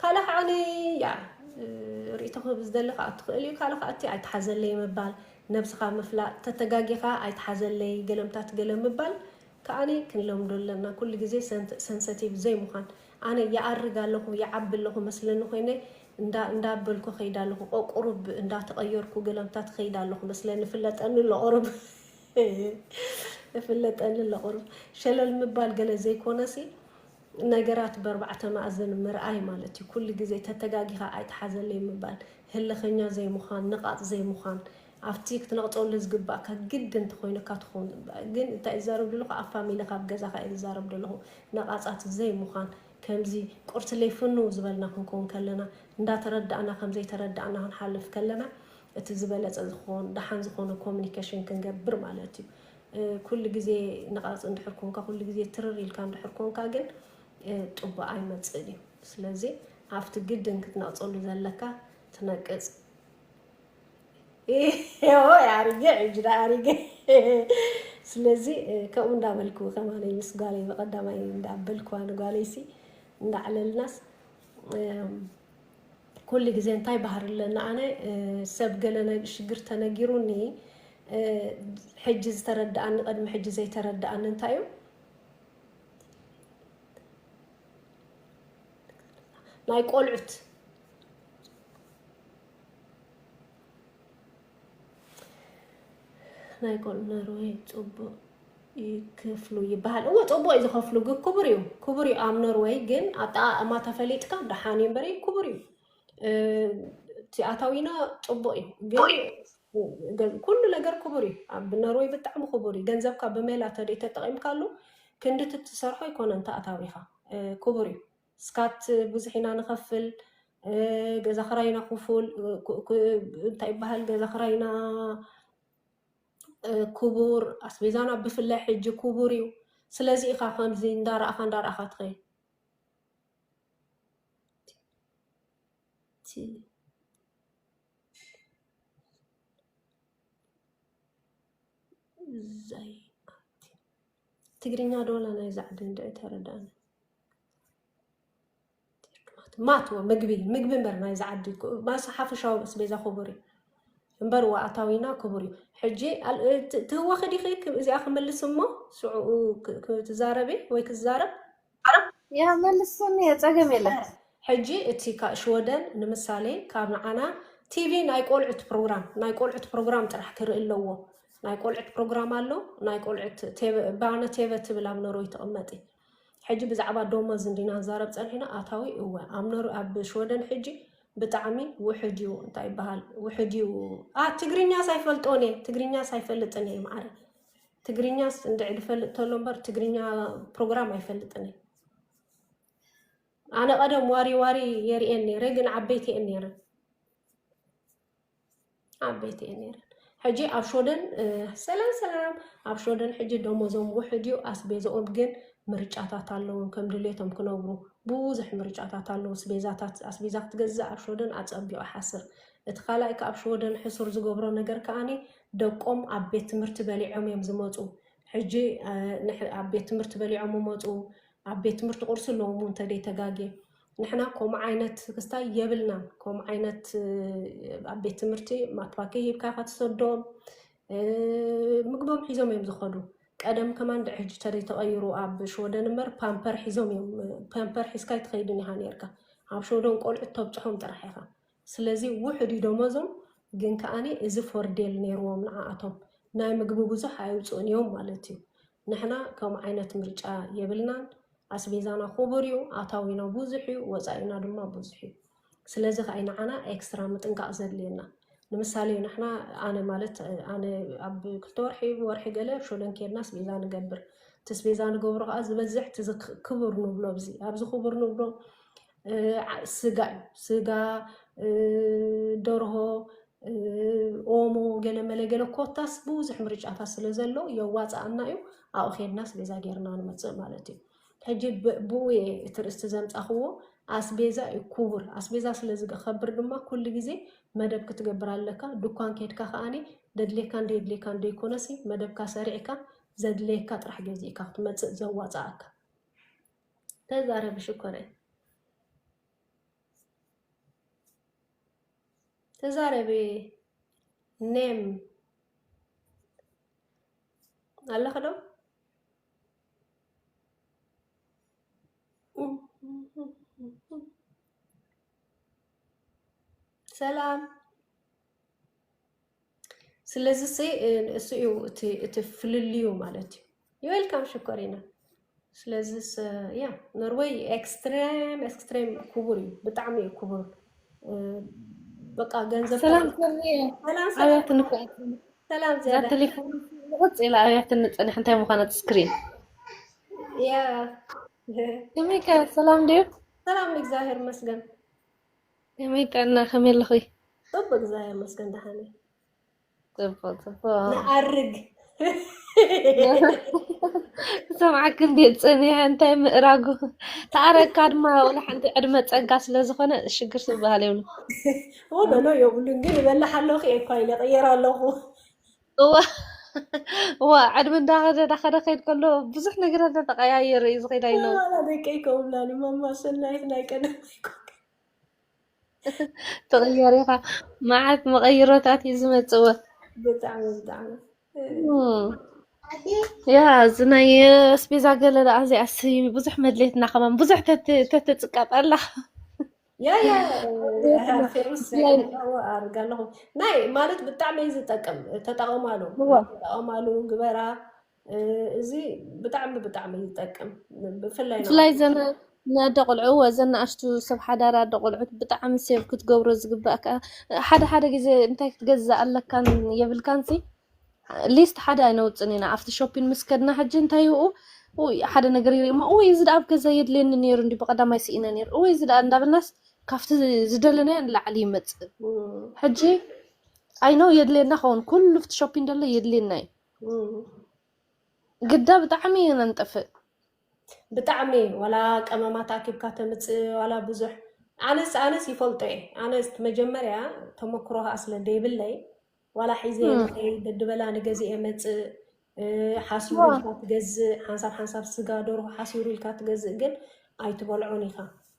ካልእ ከዓ ንያ ርእቶ ክህብ ዝደሊ ከዓ ትኽእል እዩ ካልእ ከዓ እቲ ኣይተሓዘለይ ምባል ነብስኻ ምፍላጥ ተተጋጊኻ ኣይተሓዘለይ ገለምታት ገለ ምባል ከዓ ክንለምዶ ኣለና ኩሉ ግዜ ሰንሰቲቭ ዘይምዃን ኣነ ይኣርግ ኣለኹ ይዓቢ ኣለኹ መስለኒ ኮይነ እንዳበልኩ ከይድ ኣለኹ ቆቁሩብ እንዳተቐየርኩ ገለምታት ከይድ ኣለኹ መስለኒ ፍለጠኒ ኣለቑሩብ እፍለጠኒ ኣለኹ ሩፍ ሸለል ምባል ገለ ዘይኮነሲ ነገራት በርባዕተ ማእዝን ምርኣይ ማለት እዩ ኩሉ ግዜ ተተጋጊኻ ኣይትሓዘለይ ምባል ህልኸኛ ዘይምዃን ነቓጽ ዘይምዃን ኣብቲ ክትነቕጸሉ ዝግባእካ ግዲ እንተኾይኑካ ትኾን ግን እንታይ ዝዛረብ ዘለኹ ኣብ ፋሚሊ ካብ ገዛኻ እየ ዝዛረብ ዘለኹ ነቓጻት ዘይምዃን ከምዚ ቁርሲ ለይፍንው ዝበልና ክንከውን ከለና እንዳተረዳእና ከምዘይተረዳእና ክንሓልፍ ከለና እቲ ዝበለፀ ዝኾን ደሓን ዝኾነ ኮሚኒኬሽን ክንገብር ማለት እዩ። ኩሉ ግዜ ነቓፅ እንድሕር ኮንካ፣ ኩሉ ግዜ ትርር ኢልካ እንድሕር ኮንካ ግን ጥቡእ ኣይመፅእን እዩ። ስለዚ ኣብቲ ግድን ክትነቕፀሉ ዘለካ ትነቅፅ ኣሪገ ዕጅዳ ኣሪገ ስለዚ ከምኡ እንዳበልኩ ከማነይ ምስ ጓለይ ብቐዳማይ እንዳበልኩዋ ንጓለይሲ እንዳዕለልናስ ኩሉ ግዜ እንታይ ባህሪ ኣለኒ ኣነ ሰብ ገለ ሽግር ተነጊሩኒ ሕጂ ዝተረደኣኒ ቅድሚ ሕጂ ዘይተረደኣኒ እንታይ እዩ ናይ ቆልዑት ናይ ቆልዑ ኖርወይ ፅቡቅ ይክፍሉ ይበሃል እዎ ፅቡቅ እዩ ዝኸፍሉ ግ ክቡር እዩ ክቡር እዩ ኣብ ኖርወይ ግን ኣጠቃቅማ ተፈሊጥካ ደሓን እዩ እምበረይ ክቡር እዩ እ፣ እቲ ኣታዊና ፅቡቅ እዩ ግን ገ- ኩሉ ነገር ክቡር እዩ ኣብ ኖርወይ ብጣዕሚ ክቡር እዩ ገንዘብካ ብሜላ ተደይ ተጠቂምካሉ ክንዲ እቲ ትሰርሖ ኣይኮነን ተኣታዊኻ እ፣ ክቡር እዩ ስካት ብዙሕ ኢና ንኸፍል ገዛ ክራይና ክፉል እንታይ ይበሃል ገዛ ክራይና ክቡር ኣስቤዛና ብፍላይ ሕጂ ክቡር እዩ ስለዚ ኢኻ ከምዚ እንዳረእኻ እንዳረእኻ ትኸይ ትግርኛ ዶላ ናይ ዛዕዲ እንድዒ ተረዳእኒ ማት ምግቢ ምግቢ እምበር ናይ ዝዓዲ ማስ ሓፈሻዊ ምስ ቤዛ ክቡር እዩ እምበር ዋኣታዊና ክቡር እዩ ሕጂ ትህወኺ ዲኺ እዚኣ ክምልስ እሞ ሽዑኡ ትዛረቢ ወይ ክዛረብ ያ መልስኒ ፀገም የለን ሕጂ እቲ ሽወደን ንምሳሌ ካብ ንዓና ቲቪ ናይ ቆልዑት ፕሮግራም ናይ ቆልዑት ፕሮግራም ጥራሕ ክርኢ ኣለዎ ናይ ቆልዑት ፕሮግራም ኣሎ ናይ ቆልዑት ባነ ቴቨ ትብል ኣብ ኖርወይ ትቕመጥ ሕጂ ብዛዕባ ዶሞዝ እንዲና ንዛረብ ጸኒሕና ኣታዊ እወ ኣምነሩ ኣብ ሽወደን ሕጂ ብጣዕሚ ውሕድ እዩ እንታይ ይበሃል ውሕድ እዩ ኣ ትግርኛስ ኣይፈልጦን እየ ትግርኛስ ኣይፈልጥን እየ ማዕረ ትግርኛስ እንድዒ ድፈልጥ ተሎ እምበር ትግርኛ ፕሮግራም ኣይፈልጥን እየ ኣነ ቀደም ዋሪ ዋሪ የርእየን ነይረ ግን ዓበይቲ እየን ነይረን ኣብ ቤት እየ ነይረን ሕጂ ኣብ ሾደን ሰላም ሰላም ኣብ ሾደን ሕጂ ደሞዞም ውሕድ እዩ ኣስቤዝኦም ግን ምርጫታት ኣለዎም ከም ድሌቶም ክነብሩ ብዙሕ ምርጫታት ኣለዉ ስቤዛታት ኣስቤዛ ክትገዝእ ኣብ ሾደን ኣፀቢቑ ሓስር እቲ ካልኣይ ካብ ሾደን ሕሱር ዝገብሮ ነገር ከዓኒ ደቆም ኣብ ቤት ትምህርቲ በሊዖም እዮም ዝመፁ ሕጂ ኣብ ቤት ትምህርቲ በሊዖም ይመፁ ኣብ ቤት ትምህርቲ ቁርሲ ኣለዎም እንተደይ ተጋጌ ንሕና ከምኡ ዓይነት ክስታይ የብልናን። ከምኡ ዓይነት ኣብ ቤት ትምህርቲ ማትባኪ ሂብካ ከትሰዶም ምግቦም ሒዞም እዮም ዝኸዱ። ቀደም ከማን ድዕ ሕጂ ተደይ ተቐይሩ ኣብ ሽወደን እምበር ፓምፐር ሒዞም እዮም ፓምፐር ሒዝካ ኣይትኸይድን ኢኻ ነርካ። ኣብ ሽወደን ቆልዑት ተብፅሖም ጥራሕ ኢኻ። ስለዚ ውሑድ እዩ ደሞዞም ግን ከኣ እዚ ፎርዴል ኔርዎም ንዓኣቶም ናይ ምግቢ ብዙሕ ኣየውጽኡን እዮም ማለት እዩ። ንሕና ከምኡ ዓይነት ምርጫ የብልናን ኣስቤዛና ኩቡር እዩ ኣታዊና ብዙሕ እዩ ወጻኢና ድማ ብዙሕ እዩ ስለዚ ከኣ እዩ ንዓና ኤክስትራ ምጥንቃቅ ዘድልየና ንምሳሌ ንሕና ኣነ ማለት ኣነ ኣብ ክልተ ወርሒ ወርሒ ገለ ሾደን ኬድና ኣስቤዛ ንገብር እቲ ኣስቤዛ ንገብሮ ከኣ ዝበዝሕ እቲ ክቡር ንብሎ ኣብዚ ኣብዚ ክቡር ንብሎ ስጋ እዩ ስጋ ደርሆ ኦሞ ገለመለ ገለ ኮታስ ብዙሕ ምርጫታት ስለ ዘሎ የዋፅኣና እዩ ኣብኡ ኬድና ኣስቤዛ ጌርና ንመፅእ ማለት እዩ ሕጂ ብኡ እየ እቲ ርእስቲ ዘምፃኽዎ ኣስቤዛ እዩ ክቡር ኣስቤዛ ስለ ዝከብር ድማ ኩሉ ግዜ መደብ ክትገብር ኣለካ ድኳን ኬድካ ከዓኒ ደድሌካ እንደየድሌካ እንደይኮነሲ መደብካ ሰሪዕካ ዘድለየካ ጥራሕ ገዚእካ ክትመፅእ ዘዋፅኣካ ተዛረቢ ሽኮረይ ተዛረቢ ኔም ኣለኸ ዶ ሰላም ስለዚ ሲ እሱ እዩ እቲ እቲ ፍልልዩ ማለት እዩ ዌልካም ሽኮሪና ስለዚ ያ ኖርወይ ኤክስትሬም ኤክስትሬም ክቡር እዩ ብጣዕሚ እዩ ክቡር እ፣ በቃ ገንዘብ ሰላም ተቐ- ሰኒ ሰላም ሰላም ኣብያት ንፍዕቲ ሰላም እዛ ዝያዳ ቴሌፎን ንቕፅ ኢላ ኣብያት ንፅንሕ እንታይ ምዃነት ስክሪን ያ ከመይ ከ ሰላም ድዩ ሰላም እግዚኣብሔር ይመስገን ከመይ ጠና ከመይ ኣለኺ? ጽቡቅ እግዚኣቢሔር ይመስገን ደሓን እየ። ጽቡቅ ጽቡቅ ንኣርግ ሰምዓክ እንዴት ጽንያ እንታይ ምእራጉ ተኣረግካ ድማ ወላ ሓንቲ ዕድመ ጸጋ ስለ ዝኾነ ሽግር ዝበሃል የብሉ ወደሎ የብሉን ግን ይበላሕ ኣለኹ እየ እኳ ኢለ ቀየር ኣለኹ እዋ እዋ ዕድመ እንዳኸደ እንዳኸደ ከይድ ከሎ ብዙሕ ነገራት ተተቀያየረ እዩ ዝኸይድ ኣይነው ዋላ ደቀይ ከምብላኒ ማማ ሰናይት ናይ ቀደም ኣይኮንካ ትቕየር ኢኻ መዓት መቐይሮታት እዩ ዝመፅዎ ብጣዕሚ ብጣዕሚ ያ እዚ ናይ ኣስቤዛ ገለ ደኣ እዚኣስ ብዙሕ መድሌትና ከማን ብዙሕ ተትፅቀጥ ኣላ ያ ያ ፌሩስ ከዳዎ ኣርጋ ኣለኹ ናይ ማለት ብጣዕሚ እዩ ዝጠቅም ተጠቐማሉ ተጠቐማሉ ግበራ እዚ ብጣዕሚ ብጣዕሚ ይጠቅም ብፍላይ ብፍላይ እዘን ንኣደ ቆልዑ ወዘን ንኣሽቱ ሰብ ሓዳር ኣደ ቆልዑት ብጣዕሚ ሴቭ ክትገብሮ ዝግባእ ከዓ ሓደ ሓደ ግዜ እንታይ ክትገዝእ ኣለካን የብልካን ሲ ሊስት ሓደ ኣይነውፅን ኢና ኣብቲ ሾፒን ምስ ከድና ሕጂ እንታይ ይኡ ውይ ሓደ ነገር ይርኢ እሞ እወይ እዚ ደኣ ኣብ ገዛ የድልየኒ ነይሩ እንዲ ብቐዳማይ ስኢነ ነይሩ እወይ እዚ ደኣ እንዳበልናስ ካብቲ ዝደለናዮ ንላዕሊ ይመፅእ ሕጂ ኣይነው የድልየና ኸውን ኩሉ ፍቲ ሾፒን ደሎ የድልየና እዩ እም፣ ግዳ ብጣዕሚ እዩ ነንጥፍእ። ብጣዕሚ ዋላ ቀመማት ኣኪብካ ተምፅእ ዋላ ብዙሕ ኣነስ ኣነስ ይፈልጦ እየ ኣነስ መጀመርያ ተመክሮ ከዓ ስለ ዘይብለይ ዋላ ሒዘ እም፣ ንኸይ ደድበላ ንገዝኤ መፅእ እ፣ ሓሲሩ እዋ፣ ኢልካ ትገዝእ ሓንሳብ ሓንሳብ ስጋ ደርሆ ሓሲሩ ኢልካ ትገዝእ ግን ኣይትበልዖን ኢኻ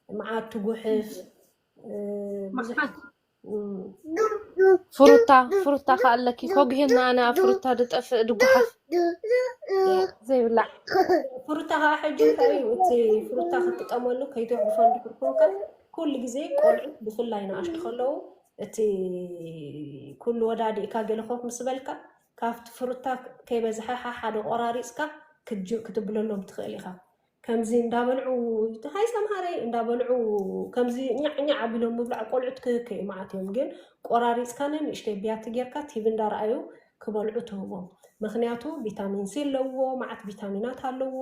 መዓት ትጉሕፍ እ፣ ብዙሕ መዓት ፍሩታ ፍሩታ ከ ኣለኪ ኮግሄና ኣነ ኣብ ፍሩታ ድጠፍእ ድጓሓፍ ዘይብላዕ ፍሩታ ከዓ ሕጂ እንታይ እዩ እቲ ፍሩታ ክትጥቀመሉ ከይትውሕፎ እንድሕር ኮንካ ኩሉ ግዜ ቆልዑ ብፍላይ ንኣሽቱ ከለዉ እቲ ኩሉ ወዳዲእካ ገለ ኮፍ ምስ በልካ ካብቲ ፍሩታ ከይበዝሐ ሓሓደ ቆራሪፅካ ክትብለሎም ትኽእል ኢኻ ከምዚ እንዳበልዑ ሃይ ሰምሃረይ እንዳበልዑ ከምዚ ኛዕ ኛዕ ኣቢሎም ምብላዕ ቆልዑት ክክ እዩ መዓት እዮም ግን ቆራሪፅካ ንንእሽተይ ብያቲ ጌርካ ቲቪ እንዳረኣዩ ክበልዑ ትህቦም ምክንያቱ ቪታሚን ሲ ኣለዎ መዓት ቪታሚናት ኣለዎ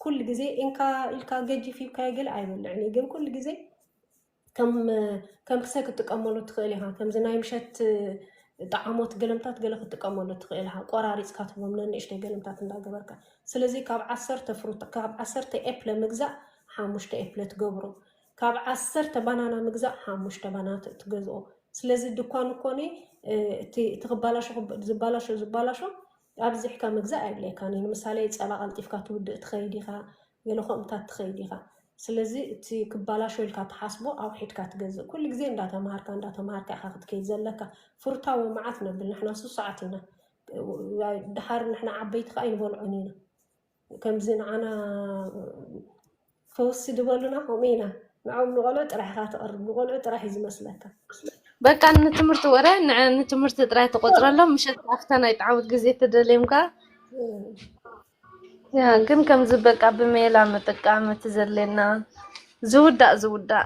ኩሉ ግዜ ኢንካ ኢልካ ገጂፍ ሂብካዮ ገለ ኣይበልዕን እዩ ግን ኩሉ ግዜ ከም ክሰ ክትጥቀመሉ ትኽእል ኢኻ። ከምዚ ናይ ምሸት ጣዓሞት ገለምታት ገለ ክትጥቀመሉ ትኽእል ኢኻ። ቆራሪጽካ ትህቦም ነንእሽተይ ገለምታት እንዳገበርካ። ስለዚ ካብ ዓሰርተ ፍሩታ ካብ ዓሰርተ ኤፕለ ምግዛእ ሓሙሽተ ኤፕለ ትገብሮ። ካብ ዓሰርተ ባናና ምግዛእ ሓሙሽተ ባና ትገዝኦ። ስለዚ ድኳን እኮኒ እቲ እቲ ክባላሾ ዝበላሾ ዝበላሾ ኣብዚሕካ ምግዛእ ኣየድልየካን እዩ። ንምሳሌ ጸባ ቀልጢፍካ ትውድእ ትኸይድ ኢኻ፣ ገለ ከምኡታት ትኸይድ ኢኻ። ስለዚ እቲ ክባላሾ ኢልካ ትሓስቦ ኣውሒድካ ትገዝእ። ኩሉ ግዜ እንዳተማሃርካ እንዳተማሃርካ ኢኻ ክትከይድ ዘለካ። ፍሩታዊ መዓት ነብል ንሕና ሱሱዓት ኢና። ድሓር ንሕና ዓበይቲ ከኣ ኣይንበልዖን ኢና። ከምዚ ንዓና ፈውሲ ድበሉና ከምኡ ኢና ንዕኦም ንቆልዑ ጥራሕ ኢኻ ተቕርብ ንቆልዑ ጥራሕ እዩ ዝመስለካ በቃ ንትምህርቲ ወረ ንዐ- ንትምህርቲ ጥራይ ተቆፅረሎም ምሸት ከዓ ኣብታ ናይ ጣዓውት ግዜ ተደልዮም ከዓ ያ ግን ከምዚ በቃ ብሜላ ምጥቃም እቲ ዘድልየና ዝውዳእ ዝውዳእ